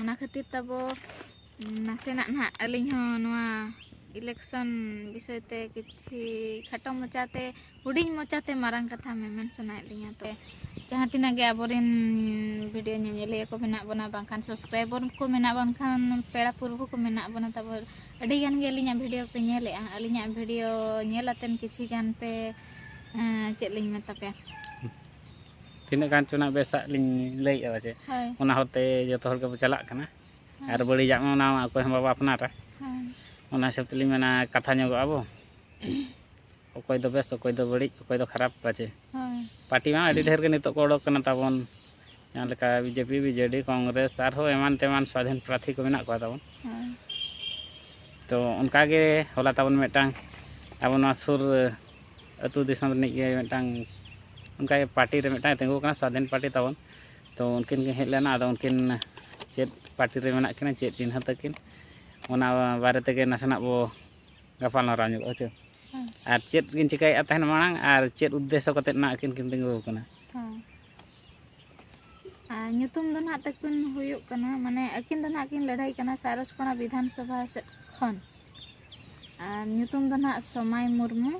ᱚᱱᱟ ᱠᱷᱟᱹᱛᱤᱨ ᱛᱟᱵᱚ ᱱᱟᱥᱮᱱᱟᱜ ᱱᱟᱦᱟᱜ ᱟᱹᱞᱤᱧ ᱦᱚᱸ ᱱᱚᱣᱟ ᱤᱞᱮᱠᱥᱚᱱ ᱵᱤᱥᱚᱭ ᱛᱮ ᱠᱤᱪᱷᱤ ᱠᱷᱟᱴᱚ ᱢᱚᱪᱟᱛᱮ ᱦᱩᱰᱤᱧ ᱢᱚᱪᱟᱛᱮ ᱢᱟᱨᱟᱝ ᱠᱟᱛᱷᱟ ᱢᱮᱢᱮᱱ ᱥᱟᱱᱟᱭᱮᱫ ᱞᱤᱧᱟ ᱛᱚ ᱡᱟᱦᱟᱸ ᱛᱤᱱᱟᱹᱜ ᱜᱮ ᱟᱵᱚᱨᱮᱱ ᱵᱷᱤᱰᱤᱭᱳ ᱧᱮᱧᱮᱞᱤᱭᱟᱹ ᱠᱚ ᱢᱮᱱᱟᱜ ᱵᱚᱱᱟ ᱵᱟᱝᱠᱷᱟᱱ ᱥᱟᱵᱥᱠᱨᱟᱭᱵᱚᱨ ᱠᱚ ᱢᱮᱱᱟᱜ ᱵᱟᱝᱠᱷᱟᱱ ᱯᱮᱲᱟ ᱯᱩᱨᱵᱷᱩ ᱠᱚ ᱢᱮᱱᱟᱜ ᱵᱚᱱᱟ ᱛᱟᱵᱚ ᱟᱹᱰᱤ ᱜᱟᱱ ᱜᱮ ᱟᱹᱞᱤᱧᱟᱜ ᱵᱷᱤᱰᱤᱭᱳ ᱯᱮ ᱧᱮᱞᱮᱜᱼᱟ ᱟᱹᱞᱤᱧᱟᱜ ᱵᱷᱤᱰᱤᱭᱳ ᱧᱮᱞ ᱟᱛᱮᱱ ᱠᱤᱪᱷᱤ ᱜᱟᱱ ᱯᱮ ᱪᱮᱫ ᱞᱤᱧ ᱢᱮᱛᱟ ᱯᱮᱭᱟ ᱛᱤᱱᱟᱹᱜ ᱜᱟᱱ ᱪᱚ ᱱᱟᱜ ᱵᱮᱥᱟᱜ ᱞᱤᱧ ᱞᱟᱹᱭᱮᱫᱼᱟ ᱯᱟᱪᱮ ᱦᱳᱭ ᱚᱱᱟ ᱦᱚᱨᱛᱮ ᱡᱚᱛᱚ ᱦᱚᱲ ᱜᱮᱵᱚ ᱪᱟᱞᱟᱜ ᱠᱟᱱᱟ ᱟᱨ ᱵᱟᱹᱲᱤᱡᱟᱜ ᱢᱟ ᱚᱱᱟ ᱢᱟ ᱚᱠᱚᱭ ᱦᱚᱸ ᱵᱟᱵᱚ ᱟᱯᱱᱟᱨᱟ ᱦᱮᱸ ᱚᱱᱟ ᱦᱤᱥᱟᱹᱵ ᱛᱮᱞᱤᱧ ᱢᱮᱱᱟ ᱠᱟᱛᱷᱟ ᱧᱚᱜᱚᱜᱼᱟ ᱵᱚ ᱚᱠᱚᱭ ᱫᱚ ᱵᱮᱥ ᱚᱠᱚᱭ ᱫᱚ ᱵᱟᱹᱲᱤᱡ ᱚᱠᱚᱭ ᱫᱚ ᱠᱷᱟᱨᱟᱯ ᱯᱟᱪᱮ ᱦᱳᱭ ᱯᱟᱨᱴᱤ ᱢᱟ ᱟᱹᱰᱤ ᱰᱷᱮᱨ ᱜᱮ ᱱᱤᱛᱚᱜ ᱠᱚ ᱚᱰᱚᱠ ᱠᱟᱱᱟ ᱛᱟᱵᱚᱱ ᱡᱟᱦᱟᱸ ᱞᱮᱠᱟ ᱵᱤᱡᱮᱯᱤ ᱵᱤᱡᱮᱰᱤ ᱠᱚᱝᱜᱨᱮᱥ ᱟᱨᱦᱚᱸ ᱮᱢᱟᱱ ᱛᱮᱢᱟᱱ ᱥᱟᱫᱷᱤᱱ ᱯᱨᱟᱨᱛᱷᱤ ᱠᱚ ᱢᱮᱱᱟᱜ ᱠᱚᱣᱟ ᱛᱟᱵᱚᱱ ᱦᱳᱭ ᱛᱚ ᱚᱱᱠᱟᱜᱮ ᱦᱚᱞᱟ ᱛᱟᱵᱚᱱ ᱢᱤᱫᱴᱟᱝ ᱟᱵᱚ ᱱᱚᱣᱟ ᱥᱩᱨ ᱟᱹᱛᱩ ᱫᱤᱥᱚᱢ ᱨᱤᱱᱤᱡ ᱜᱮ ᱢᱤᱫᱴᱟᱝ ᱚᱱᱠᱟ ᱜᱮ ᱯᱟᱴᱤ ᱨᱮ ᱢᱤᱫᱴᱟᱝ ᱮ ᱛᱤᱸᱜᱩ ᱟᱠᱟᱱᱟ ᱥᱟᱹᱫᱷᱤᱱ ᱯᱟᱴᱤ ᱛᱟᱵᱚᱱ ᱛᱚ ᱩᱱᱠᱤᱱ ᱠᱤᱱ ᱦᱮᱡ ᱞᱮᱱᱟ ᱟᱫᱚ ᱩᱱᱠᱤᱱ ᱪᱮᱫ ᱯᱟᱴᱤ ᱨᱮ ᱢᱮᱱᱟᱜ ᱠᱤᱱᱟ ᱪᱮᱫ ᱪᱤᱱᱦᱟᱹ ᱛᱟᱹᱠᱤᱱ ᱚᱱᱟ ᱵᱟᱨᱮ ᱛᱮᱜᱮ ᱱᱟᱥᱮᱱᱟᱜ ᱵᱚ ᱜᱟᱯᱟᱞ ᱢᱟᱨᱟᱣ ᱧᱚᱜᱚᱜᱼᱟ ᱦᱮᱸ ᱪᱮ ᱟᱨ ᱪᱮᱫ ᱠᱤᱱ ᱪᱤᱠᱟᱹᱭᱮᱫ ᱛᱟᱦᱮᱱ ᱢᱟᱲᱟᱝ ᱟᱨ ᱪᱮᱫ ᱩᱫᱽᱫᱮᱥᱥᱚ ᱠᱟᱛᱮᱫ ᱱᱟᱦᱟᱜ ᱟᱹᱠᱤᱱ ᱠᱤᱱ ᱛᱤᱸᱜᱩ ᱟᱠᱟᱱᱟ ᱧᱩᱛᱩᱢ ᱫᱚ ᱱᱟᱦᱟᱜ ᱛᱟᱹᱠᱤᱱ ᱦᱩᱭᱩᱜ ᱠᱟᱱᱟ ᱢᱟᱱᱮ ᱟᱹᱠᱤᱱ ᱫᱚ ᱱᱟᱦᱟᱜ ᱠᱤᱱ ᱞᱟᱹᱲᱦᱟᱹᱭ ᱠᱟᱱᱟ ᱥᱟᱨᱚᱥᱯᱟᱲᱟ ᱵᱤᱫᱷᱟᱱ ᱥᱚᱵᱷᱟ ᱥᱮᱫ ᱠᱷᱚᱱ ᱟᱨ ᱧᱩᱛᱩᱢ ᱫᱚ ᱱᱟᱦᱟᱜ ᱥᱚᱢᱟᱭ ᱢᱩᱨᱢᱩ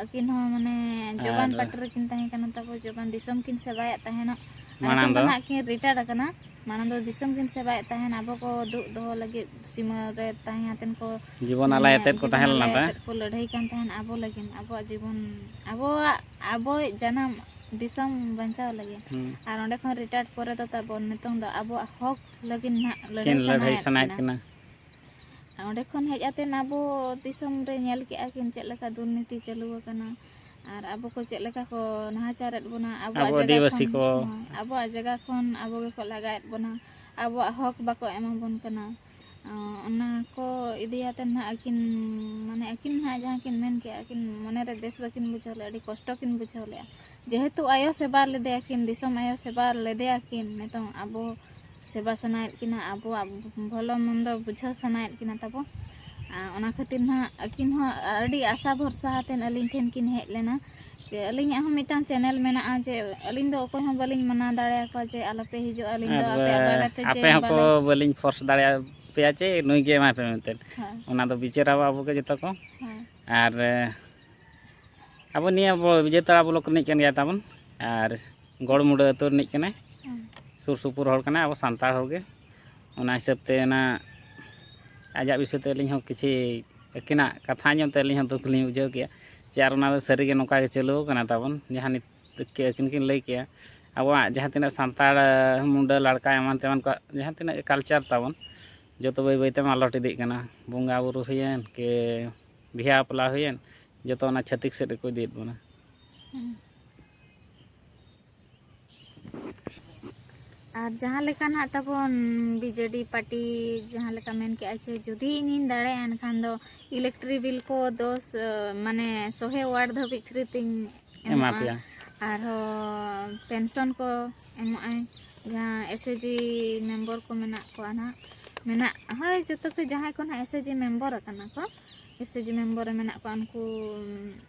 ᱟᱹᱠᱤᱱ ᱦᱚᱸ ᱢᱟᱱᱮ ᱡᱚᱵᱟᱱ ᱟᱨ- ᱯᱟᱴᱤ ᱨᱮᱠᱤᱱ ᱛᱟᱦᱮᱸ ᱠᱟᱱᱟ ᱛᱟᱯᱚᱨ ᱡᱚᱵᱟᱱ ᱫᱤᱥᱚᱢ ᱠᱤᱱ ᱥᱮᱵᱟᱭᱮᱫ ᱛᱟᱦᱮᱱᱟ ᱟᱨ ᱢᱟᱲᱟᱝ ᱱᱤᱛᱚᱝ ᱫᱚ ᱫᱚ? ᱱᱟᱦᱟᱜ ᱠᱤᱱ ᱨᱤᱴᱟᱭᱟᱨ ᱟᱠᱟᱱᱟ ᱢᱟᱲᱟᱝ ᱫᱚ ᱫᱤᱥᱚᱢ ᱠᱤᱱ ᱥᱮᱵᱟᱭᱮᱫ ᱛᱟᱦᱮᱱ ᱟᱵᱚ ᱠᱚ ᱫᱩᱜ ᱫᱚᱦᱚ ᱞᱟᱹᱜᱤᱫ ᱥᱤᱢᱟᱹ ᱨᱮ ᱛᱟᱦᱮᱸ ᱟᱛᱮᱱ ᱠᱚ ᱡᱤᱵᱚᱱ ᱟᱞᱟᱭ ᱟᱛᱮᱫ ᱠᱚ ᱛᱟᱦᱮᱸ ᱞᱮᱱᱟ ᱛᱟ ᱠᱚ ᱞᱟᱹᱲᱦᱟᱹᱭ ᱠᱟᱱ ᱛᱟᱦᱮᱱ ᱟᱵᱚ ᱞᱟᱹᱜᱤᱫ ᱟᱵᱚᱣᱟᱜ ᱡᱤᱵᱚᱱ ᱟᱵᱚᱣᱟᱜ ᱟᱵᱚᱭᱤᱡ ᱡᱟᱱᱟᱢ ᱫᱤᱥᱚᱢ ᱵᱟᱧᱪᱟᱣ ᱞᱟᱹᱜᱤᱫ ᱟᱨ ᱚᱸᱰᱮ ᱠᱷᱚᱱ ᱨᱤᱴᱟᱭᱟᱨᱰ ᱯᱚᱨᱮ ᱫᱚ ᱛᱟᱵᱚᱱ ᱱᱤᱛᱚᱝ ᱫᱚ ᱟᱵᱚᱣᱟᱜ ᱦᱚᱠ ᱞᱟᱹᱜᱤᱫ ᱱᱟᱦᱟᱜ ᱞᱟᱹᱲᱦᱟᱹᱭ ᱞᱟᱹᱲᱦᱟᱹᱭ ᱥᱟᱱᱟᱭᱮᱫ ᱠᱤᱱᱟ ᱚᱸᱰᱮ ᱠᱷᱚᱱ ᱦᱮᱡ ᱟᱛᱮ ᱟᱵᱚ ᱫᱤᱥᱚᱢ ᱨᱮ ᱧᱮᱞ ᱠᱮᱜᱼᱟ ᱠᱤᱱ ᱪᱮᱫ ᱞᱮᱠᱟ ᱫᱩᱨᱱᱤᱛᱤ ᱪᱟᱹᱞᱩ ᱟᱠᱟᱱᱟ ᱟᱨ ᱟᱵᱚ ᱠᱚ ᱪᱮᱫ ᱞᱮᱠᱟ ᱠᱚ ᱱᱟᱦᱟᱪᱟᱨᱮᱫ ᱵᱚᱱᱟ ᱟᱵᱚᱣᱟᱜ ᱡᱟᱭᱜᱟ ᱠᱷᱚᱱ ᱟᱵᱚᱣᱟᱜ ᱡᱟᱭᱜᱟ ᱠᱷᱚᱱ ᱟᱵᱚ ᱜᱮᱠᱚ ᱞᱟᱜᱟᱭᱮᱫ ᱵᱚᱱᱟ ᱟᱵᱚᱣᱟᱜ ᱦᱚᱠ ᱵᱟᱠᱚ ᱮᱢᱟᱵᱚᱱ ᱠᱟᱱᱟ ᱚᱱᱟ ᱠᱚ ᱤᱫᱤ ᱠᱟᱛᱮ ᱦᱟᱸᱜ ᱟᱹᱠᱤᱱ ᱢᱟᱱᱮ ᱟᱹᱠᱤᱱ ᱦᱟᱸᱜ ᱡᱟᱦᱟᱸ ᱠᱤᱱ ᱢᱮᱱ ᱠᱮᱜᱼᱟ ᱟᱹᱠᱤᱱ ᱢᱚᱱᱮ ᱨᱮ ᱵᱮᱥ ᱵᱟᱹᱠᱤᱱ ᱵᱩᱡᱷᱟᱹᱣ ᱞᱮᱜᱼᱟ ᱟᱹᱰᱤ ᱠᱚᱥᱴᱚ ᱠᱤᱱ ᱵᱩᱡᱷᱟᱹᱣ ᱞᱮᱜᱼᱟ ᱡᱮᱦᱮᱛᱩ ᱟᱭᱳ ᱥᱮᱵᱟ ᱞᱮᱫᱮᱭᱟ ᱠᱤᱱ ᱫᱤᱥᱚᱢ ᱟᱭᱳ ᱥᱮᱵᱟ ᱞᱮᱫᱮᱭᱟ ᱠᱤᱱ ᱱᱤᱛᱚᱝ ᱟᱵᱚ ᱥᱮᱵᱟ ᱥᱟᱱᱟᱭᱮᱫ ᱠᱤᱱᱟ ᱟᱵᱚᱣᱟᱜ ᱵᱷᱟᱞᱮ ᱢᱚᱱᱫᱚ ᱵᱩᱡᱷᱟᱹᱣ ᱥᱟᱱᱟᱭᱮᱫ ᱠᱤᱱᱟ ᱛᱟᱵᱚ ᱚᱱᱟ ᱠᱷᱟᱹᱛᱤᱨ ᱦᱟᱸᱜ ᱟᱹᱠᱤᱱ ᱦᱚᱸ ᱟᱹᱰᱤ ᱟᱥᱟ ᱵᱷᱚᱨᱥᱟ ᱠᱟᱛᱮ ᱟᱹᱞᱤᱧ ᱴᱷᱮᱱ ᱠᱤᱱ ᱦᱮᱡ ᱞᱮᱱᱟ ᱡᱮ ᱟᱹᱞᱤᱧᱟᱜ ᱦᱚᱸ ᱢᱤᱫᱴᱟᱝ ᱪᱮᱱᱮᱞ ᱢᱮᱱᱟᱜᱼᱟ ᱡᱮ ᱟᱹᱞᱤᱧ ᱫᱚ ᱚᱠᱚᱭ ᱦᱚᱸ ᱵᱟᱹᱞᱤᱧ ᱢᱟᱱᱟ ᱫᱟᱲᱮᱭᱟᱠᱚᱣᱟ ᱡᱮ ᱟᱞᱚᱯᱮ ᱦᱤᱡᱩᱜᱼᱟ ᱟᱹᱞᱤᱧ ᱫᱚ ᱟᱯᱮ ᱟᱯᱮ ᱜᱟᱛᱮ ᱪᱮ ᱟᱯᱮ ᱦᱚᱸᱠᱚ ᱵᱟᱹᱞᱤᱧ ᱯᱷᱳᱨᱥ ᱫᱟᱲᱮᱭᱟᱯᱮᱭᱟ ᱪᱮ ᱱᱩᱭ ᱜᱮ ᱮᱢᱟᱭ ᱯᱮ ᱢᱮᱱᱛᱮ ᱚᱱᱟ ᱫᱚ ᱵᱤᱪᱟᱹᱨᱟ ᱟᱵᱚ ᱜᱮ ᱡᱚᱛᱚ ᱠᱚ ᱟᱨ ᱟᱵᱚ ᱱᱤᱭᱟᱹ ᱵᱤᱡᱚᱭᱛᱟᱲᱟ ᱵᱞᱚᱠ ᱨᱤᱱᱤᱡ ᱠᱟᱱ ᱜᱮᱭᱟ ᱛᱟᱵᱚᱱ ᱟᱨ ᱜᱚᱲᱢᱩᱰᱟᱹ ᱟᱹᱛᱩ ᱨᱤᱱᱤᱡ ᱠᱟᱱᱟᱭ ᱥᱩᱨ ᱥᱩᱯᱩᱨ ᱦᱚᱲ ᱠᱟᱱᱟᱭ ᱟᱵᱚ ᱥᱟᱱᱛᱟᱲ ᱦᱚᱲ ᱜᱮ ᱚᱱᱟ ᱦᱤᱥᱟᱹᱵᱽ ᱛᱮ ᱚᱱᱟ ᱟᱡᱟᱜ ᱵᱤᱥᱚᱭ ᱛᱮ ᱟᱹᱞᱤᱧ ᱦᱚᱸ ᱠᱤᱪᱷᱤ ᱟᱹᱠᱤᱱᱟᱜ ᱠᱟᱛᱷᱟ ᱟᱸᱡᱚᱢ ᱛᱮ ᱟᱹᱞᱤᱧ ᱦᱚᱸ ᱫᱩᱠ ᱞᱤᱧ ᱵᱩᱡᱷᱟᱹᱣ ᱠᱮᱜᱼᱟ ᱡᱮ ᱟᱨ ᱚᱱᱟ ᱫᱚ ᱥᱟᱹᱨᱤ ᱜᱮ ᱱᱚᱝᱠᱟ ᱜᱮ ᱪᱟᱹᱞᱩᱣ ᱠᱟᱱᱟ ᱛᱟᱵᱚᱱ ᱡᱟᱦᱟᱸ ᱱᱤᱛ ᱟᱹᱠᱤᱱ ᱠᱤᱱ ᱞᱟᱹᱭ ᱠᱮᱜᱼᱟ ᱟᱵᱚᱣᱟᱜ ᱡᱟᱦᱟᱸ ᱛᱤᱱᱟᱹᱜ ᱥᱟᱱᱛᱟᱲ ᱢᱩᱰᱟᱹ ᱞᱟᱲᱠᱟ ᱮᱢᱟᱱ ᱛᱮᱢᱟᱱ ᱠᱚᱣᱟᱜ ᱡᱟᱦᱟᱸ ᱛᱤᱱᱟᱹᱜ ᱜᱮ ᱠᱟᱞᱪᱟᱨ ᱛᱟᱵᱚᱱ ᱡᱚᱛᱚ ᱵᱟᱹᱭ ᱵᱟᱹᱭ ᱛᱮ ᱢᱟᱞᱚᱴ ᱤᱫᱤᱜ ᱠᱟᱱᱟ ᱵᱚᱸᱜᱟ ᱵᱩᱨᱩ ᱦᱩᱭᱮᱱ ᱠᱤ ᱵᱤᱦᱟᱹ ᱵᱟᱯᱞᱟ ᱦᱩᱭᱮᱱ ᱡᱚᱛᱚ ᱚᱱᱟ ᱪᱷᱟᱹᱛᱤᱠ ᱥᱮᱫ ᱜᱮᱠᱚ ᱤᱫᱤᱭᱮᱫ ᱵᱚᱱᱟ ᱟᱨ ᱡᱟᱦᱟᱸ ᱞᱮᱠᱟ ᱱᱟᱜ ᱛᱟᱵᱚᱱ ᱵᱤᱡᱮᱰᱤ ᱯᱟᱨᱴᱤ ᱡᱟᱦᱟᱸ ᱞᱮᱠᱟ ᱢᱮᱱ ᱠᱮᱜᱼᱟ ᱡᱮ ᱡᱩᱫᱤ ᱤᱧᱤᱧ ᱫᱟᱲᱮᱭᱟᱜᱼᱟ ᱮᱱᱠᱷᱟᱱ ᱫᱚ ᱤᱞᱮᱠᱴᱨᱤ ᱵᱤᱞ ᱠᱚ ᱫᱚᱥ ᱢᱟᱱᱮ ᱥᱚᱦᱮ ᱣᱟᱨᱰ ᱫᱷᱟᱹᱵᱤᱡ ᱯᱷᱨᱤ ᱛᱤᱧ ᱮᱢᱟ ᱮᱢᱚᱜᱼᱟ ᱯᱮᱭᱟ ᱟᱨᱦᱚᱸ ᱯᱮᱱᱥᱚᱱ ᱠᱚ ᱮᱢᱚᱜᱼᱟᱭ ᱡᱟᱦᱟᱸ ᱮᱥ ᱮ ᱡᱤ ᱢᱮᱢᱵᱚᱨ ᱠᱚ ᱢᱮᱱᱟᱜ ᱠᱚᱣᱟ ᱱᱟᱜ ᱢᱮᱱᱟᱜ ᱦᱳᱭ ᱡᱚᱛᱚ ᱠᱚ ᱡᱟᱦᱟᱸᱭ ᱠᱚ ᱱᱟᱜ ᱮᱥ ᱮ ᱡᱤ ᱢᱮᱢᱵᱚᱨ ᱟᱠᱟᱱᱟ ᱠᱚ ᱮᱥ ᱮ ᱡᱤ ᱢᱮᱢᱵᱚᱨ ᱨᱮ ᱢᱮᱱᱟᱜ ᱠᱚᱣᱟ ᱩᱱᱠᱩ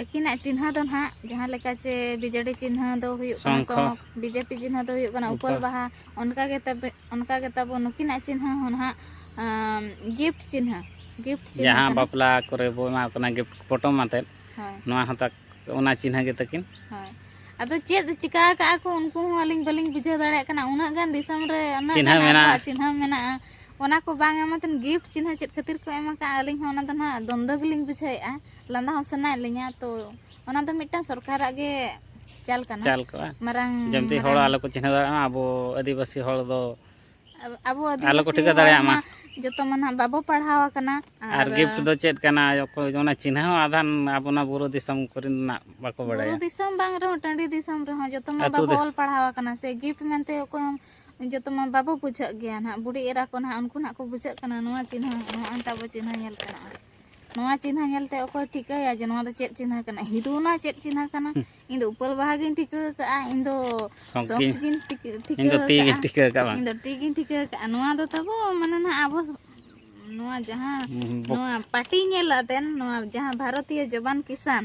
ᱟᱹᱠᱤᱱᱟᱜ ᱪᱤᱱᱦᱟᱹ ᱫᱚ ᱱᱟᱦᱟᱜ ᱡᱟᱦᱟᱸ ᱞᱮᱠᱟ ᱪᱮ ᱵᱤᱡᱮᱰᱤ ᱪᱤᱱᱦᱟᱹ ᱫᱚ ᱦᱩᱭᱩᱜ ᱠᱟᱱᱟ ᱥᱚᱝᱠᱷᱚ᱾ ᱥᱚᱸᱠ ᱵᱤᱡᱮᱯᱤ ᱪᱤᱱᱦᱟᱹ ᱫᱚ ᱦᱩᱭᱩᱜ ᱠᱟᱱᱟ ᱩᱯᱟᱹᱞ ᱩᱯᱟᱹᱞ᱾ ᱵᱟᱦᱟ ᱚᱱᱠᱟ ᱜᱮ ᱛᱟᱵᱮ ᱚᱱᱠᱟ ᱜᱮ ᱛᱟᱵᱚ ᱱᱩᱠᱤᱱᱟᱜ ᱪᱤᱱᱦᱟᱹ ᱦᱚᱸ ᱱᱟᱦᱟᱜ ᱟᱸ ᱜᱤᱯᱷᱴ ᱪᱤᱱᱦᱟᱹ ᱜᱤᱯᱷᱴ ᱪᱤᱱᱦᱟᱹ ᱡᱟᱦᱟᱸ ᱠᱟᱱᱟ ᱵᱟᱯᱞᱟ ᱠᱚᱨᱮ ᱵᱚ ᱮᱢᱟ ᱠᱚ ᱠᱟᱱᱟ ᱜᱤᱯᱷᱴ ᱯᱚᱴᱚᱢ ᱟᱛᱮᱫ ᱦᱳᱭ ᱱᱚᱣᱟ ᱦᱚᱸ ᱛᱟᱠ ᱚᱱᱟ ᱪᱤᱱᱦᱟᱹ ᱜᱮ ᱛᱟᱹᱠᱤᱱ᱾ ᱦᱳᱭ ᱟᱫᱚ ᱪᱮᱫ ᱪᱤᱠᱟ ᱠᱟᱜᱼᱟ ᱠᱚ ᱩᱱᱠᱩ ᱦᱚᱸ ᱟᱹᱞᱤᱧ ᱵᱟᱹᱞᱤᱧ ᱵᱩᱡᱷᱟᱹᱣ ᱫᱟᱲᱮᱭᱟᱜ ᱠᱟᱱᱟ ᱩᱱᱟᱹᱜ ᱜᱟᱱ ᱫᱤᱥᱚᱢ ᱨᱮ ᱩᱱᱟᱹᱜ ᱪᱤᱱᱦᱟᱹ ᱜᱟᱱ ᱢᱮᱱᱟᱜᱼᱟ ᱟᱵᱚᱣᱟᱜ ᱪᱤᱱᱦᱟᱹ ᱢᱮᱱᱟᱜᱼᱟ᱾ ᱚᱱᱟ ᱠᱚ ᱵᱟᱝ ᱮᱢᱟᱛᱮᱱ ᱜᱤᱯᱷᱴ ᱪᱤᱱᱦᱟᱹ ᱪᱮᱫ ᱠᱷᱟᱹᱛᱤᱨ ᱠᱚ ᱮᱢ ᱠᱟᱜᱼᱟ ᱟᱹᱞᱤᱧ ᱦᱚᱸ ᱚᱱᱟ ᱫᱚ ᱱᱟᱦᱟᱜ ᱫᱚᱱᱫᱚ ᱜᱮᱞᱤᱧ ᱵᱩᱡᱷᱟᱹᱣᱮᱜᱼᱟ᱾ ᱞᱟᱸᱫᱟ ᱦᱚᱸ ᱥᱟᱱᱟᱭᱮᱫ ᱞᱤᱧᱟ ᱛᱚ ᱚᱱᱟ ᱫᱚ ᱢᱤᱫᱴᱟᱝ ᱥᱚᱨᱠᱟᱨᱟᱜ ᱜᱮ ᱪᱟᱞ ᱠᱟᱱᱟ ᱪᱟᱞ ᱠᱚᱜᱼᱟ ᱢᱟᱨᱟᱝ ᱡᱮᱢᱛᱤ ᱦᱚᱲ ᱟᱞᱚ ᱠᱚ ᱪᱤᱱᱦᱟᱹᱣ ᱫᱟᱲᱮᱭᱟᱜ ᱢᱟ ᱟᱵᱚ ᱟᱹᱫᱤᱵᱟᱹᱥᱤ ᱦᱚᱲ ᱫᱚ ᱟᱵᱚ ᱟᱞᱚ ᱠᱚ ᱴᱷᱤᱠᱟᱹ ᱫᱟᱲᱮᱭᱟᱜ ᱢᱟ ᱡᱚᱛᱚ ᱢᱟ ᱱᱟᱦᱟᱜ ᱵᱟᱵᱚ ᱯᱟᱲᱦᱟᱣ ᱟᱠᱟᱱᱟ ᱟᱨ ᱜᱤᱯᱷᱴ ᱫᱚ ᱪᱮᱫ ᱠᱟᱱᱟ ᱚᱠᱚᱭ ᱚᱱᱟ ᱪᱤᱱᱦᱟᱹ ᱦᱚᱸ ᱟᱫᱷᱟᱱ ᱟᱵᱚᱱᱟ ᱵᱩᱨᱩ ᱫᱤᱥᱚᱢ ᱠᱚᱨᱮᱱᱟᱜ ᱵᱟᱠᱚ ᱵᱟᱲᱟᱭᱟ ᱵᱩᱨᱩ ᱫᱤᱥᱚᱢ ᱵᱟᱝ ᱨᱮᱦᱚᱸ ᱴᱟᱺᱰᱤ ᱫᱤᱥᱚᱢ ᱨᱮᱦᱚᱸ ᱡᱚᱛᱚ ᱢᱟ ᱵᱟᱵᱚ ᱚᱞ ᱯᱟᱲᱦᱟᱣ ᱟᱠᱟᱱᱟ ᱥᱮ ᱜᱤᱯᱷᱴ ᱢᱮᱱᱛᱮ ᱚᱠᱚᱭ ᱡᱚᱛᱚ ᱢᱟ ᱵᱟᱵᱚ ᱵᱩᱡᱷᱟᱹᱜ ᱜᱮᱭᱟ ᱱᱟᱦᱟᱜ ᱵᱩᱰᱤ ᱮᱨᱟ ᱠᱚ ᱱᱟᱦᱟᱜ ᱩᱱᱠᱩ ᱱᱟᱦᱟᱜ ᱠᱚ ᱵᱩᱡᱷᱟᱹᱜ ᱠᱟᱱᱟ ᱱᱚᱣᱟ ᱪᱤᱱᱦᱟᱹ ᱱᱚᱜᱼᱚᱭ ᱛᱟᱵᱚ ᱪᱤᱱᱦᱟᱹ ᱧᱮᱞ ᱠᱟᱱᱟ ᱱᱚᱣᱟ ᱪᱤᱱᱦᱟᱹ ᱧᱮᱞᱛᱮ ᱚᱠᱚᱭ ᱴᱷᱤᱠᱟᱹᱭᱟ ᱡᱮ ᱱᱚᱣᱟ ᱫᱚ ᱪᱮᱫ ᱪᱤᱱᱦᱟᱹ ᱠᱟᱱᱟ ᱦᱤᱫᱩᱱᱟ ᱪᱮᱫ ᱪᱤᱱᱦᱟᱹ ᱠᱟᱱᱟ ᱤᱧ ᱫᱚ ᱩᱯᱟᱹᱞ ᱵᱟᱦᱟ ᱜᱤᱧ ᱴᱷᱤᱠᱟᱹ ᱟᱠᱟᱫᱼᱟ ᱤᱧ ᱫᱚ ᱥᱚᱸᱠ ᱜᱤᱧ ᱴᱷᱤᱠᱟᱹ ᱟᱠᱟᱫᱼᱟ ᱤᱧ ᱫᱚ ᱴᱤ ᱜᱤᱧ ᱴᱷᱤᱠᱟᱹ ᱟᱠᱟᱫᱼᱟ ᱱᱚᱣᱟ ᱫᱚ ᱛᱟᱵᱚ ᱢᱟᱱᱮ ᱱᱟᱜ ᱟᱵᱚ ᱱᱚᱣᱟ ᱡᱟᱦᱟᱸ ᱱᱚᱣᱟ ᱯᱟᱴᱤ ᱧᱮᱞ ᱟᱛᱮᱱ ᱱᱚᱣᱟ ᱡᱟᱦᱟᱸ ᱵᱷᱟᱨᱚᱛᱤᱭᱚ ᱡᱚᱵᱟᱱ ᱠᱤᱥᱟᱱ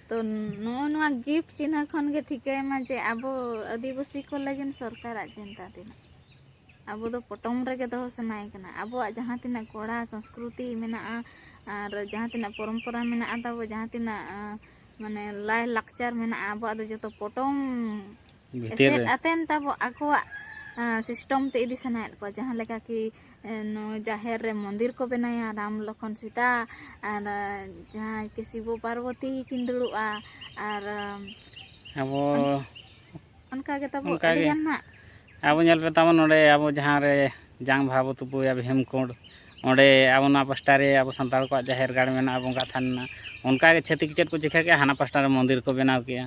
ᱛᱚ ᱱᱚᱜᱼᱚ ᱱᱚᱣᱟ ᱜᱤᱯᱷᱴ ᱪᱤᱱᱦᱟᱹ ᱠᱷᱚᱱ ᱜᱮ ᱴᱷᱤᱠᱟᱹᱭ ᱢᱟ ᱡᱮ ᱟᱵᱚ ᱟᱹᱫᱤᱵᱟᱹᱥᱤ ᱠᱚ ᱞᱟᱹᱜᱤᱫ ᱥᱚᱨᱠᱟᱨᱟᱜ ᱪᱤᱱᱛᱟ ᱛᱤᱱᱟᱹᱜ ᱟᱵᱚ ᱫᱚ ᱯᱚᱴᱚᱢ ᱨᱮᱜᱮ ᱫᱚᱦᱚ ᱥᱟᱱᱟᱭᱮ ᱠᱟᱱᱟ ᱟᱵᱚᱣᱟᱜ ᱡᱟᱦᱟᱸ ᱛᱤᱱᱟᱹᱜ ᱠᱚᱲᱟ ᱥᱚᱸᱥᱠᱨᱩᱛᱤ ᱢᱮᱱᱟᱜᱼᱟ ᱟᱨ ᱡᱟᱦᱟᱸ ᱛᱤᱱᱟᱹᱜ ᱯᱚᱨᱚᱢᱯᱚᱨᱟ ᱢᱮᱱᱟᱜᱼᱟ ᱛᱟᱵᱚ ᱡᱟᱦᱟᱸ ᱛᱤᱱᱟᱹᱜ ᱢᱟᱱᱮ ᱞᱟᱭ ᱞᱟᱠᱪᱟᱨ ᱢᱮᱱᱟᱜᱼᱟ ᱟᱵᱚᱣᱟᱜ ᱫᱚ ᱡᱚᱛᱚ ᱯᱚᱴᱚᱢ ᱮᱥᱮᱫ ᱟᱛᱮᱱ ᱛᱟᱵᱚ ᱟᱠᱚᱣᱟᱜ ᱥᱤᱥᱴᱚᱢ ᱛᱮ ᱤᱫᱤ ᱥᱟᱱᱟᱭᱮᱫ ᱠᱚᱣᱟ ᱡᱟᱦᱟᱸ ᱞᱮᱠᱟ ᱠᱤ ᱱᱚᱣᱟ ᱡᱟᱦᱮᱨ ᱨᱮ ᱢᱚᱱᱫᱤᱨ ᱠᱚ ᱵᱮᱱᱟᱭᱟ ᱨᱟᱢ ᱞᱚᱠᱷᱚᱱ ᱥᱤᱛᱟ ᱟᱨ ᱡᱟᱦᱟᱸᱭ ᱠᱤ ᱥᱤᱵᱚ ᱯᱟᱨᱵᱚᱛᱤ ᱠᱤᱱ ᱫᱩᱲᱩᱵᱼᱟ ᱟᱨ ᱟᱵᱚ ᱚᱱᱠᱟ ᱜᱮ ᱛᱟᱵᱚ ᱚᱱᱠᱟ ᱜᱮ᱾ ᱟᱹᱰᱤ ᱜᱟᱱ ᱦᱟᱸᱜ ᱟᱵᱚ ᱧᱮᱞ ᱯᱮ ᱛᱟᱵᱚᱱ ᱱᱚᱸᱰᱮ ᱟᱵᱚ ᱡᱟᱦᱟᱸ ᱨᱮ ᱡᱟᱝ ᱵᱟᱦᱟ ᱵᱚ ᱛᱩᱯᱩᱭᱟ ᱵᱷᱤᱢᱠᱩᱸᱰ ᱚᱸᱰᱮ ᱟᱵᱚ ᱱᱚᱣᱟ ᱯᱟᱥᱴᱟ ᱨᱮ ᱟᱵᱚ ᱥᱟᱱᱛᱟᱲ ᱠᱚᱣᱟᱜ ᱡᱟᱦᱮᱨ ᱜᱟᱲ ᱢᱮᱱᱟᱜᱼᱟ ᱵᱚᱸᱜᱟ ᱛᱷᱟᱱ ᱢᱮᱱᱟᱜᱼᱟ ᱚᱱᱠᱟ ᱜᱮ ᱪᱷᱟᱹᱛᱤᱠ ᱪᱮᱫ ᱠᱚ ᱪᱤᱠᱟᱹ ᱠᱮᱜᱼᱟ ᱦᱟᱱᱟ ᱯᱟᱥᱴᱟ ᱨᱮ ᱢᱚᱱᱫᱤᱨ ᱠᱚ ᱵᱮᱱᱟᱣ ᱠᱮᱜᱼᱟ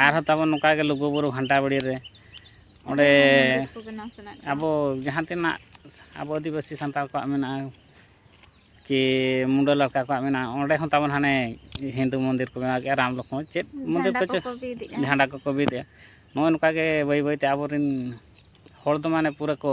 ᱟᱨᱦᱚᱸ ᱛᱟᱵᱚᱱ ᱱᱚᱝᱠᱟ ᱜᱮ ᱞᱩᱜᱩᱼᱵᱩᱨᱩ ᱜᱷᱟᱱᱴᱟ ᱵᱟᱲᱮ ᱨᱮ ᱚᱸᱰᱮ ᱟᱵᱚ ᱡᱟᱦᱟᱸ ᱛᱤᱱᱟᱹᱜ ᱟᱵᱚ ᱟᱹᱫᱤᱵᱟᱹᱥᱤ ᱥᱟᱱᱛᱟᱲ ᱠᱚᱣᱟᱜ ᱢᱮᱱᱟᱜᱼᱟ ᱠᱤ ᱢᱩᱰᱟᱹ ᱞᱟᱲᱠᱟ ᱠᱚᱣᱟᱜ ᱢᱮᱱᱟᱜᱼᱟ ᱚᱸᱰᱮ ᱦᱚᱸ ᱛᱟᱵᱚᱱ ᱦᱟᱱᱮ ᱦᱤᱱᱫᱩ ᱢᱚᱱᱫᱤᱨ ᱠᱚ ᱵᱮᱱᱟᱣ ᱠᱮᱫᱼᱟ ᱨᱟᱢ ᱞᱚᱠᱷᱚᱱ ᱪᱮᱫ ᱢᱚᱱᱫᱤᱨ ᱠᱚ ᱪᱮᱫ ᱡᱷᱟᱸᱰᱟ ᱠᱚᱠᱚ ᱵᱤᱫᱮᱜᱼᱟ ᱱᱚᱜᱼᱚᱭ ᱱᱚᱝᱠᱟ ᱜᱮ ᱵᱟᱹᱭ ᱵᱟᱹᱭᱛᱮ ᱟᱵᱚᱨᱮᱱ ᱦᱚᱲ ᱫᱚ ᱢᱟᱱᱮ ᱯᱩᱨᱟᱹ ᱠᱚ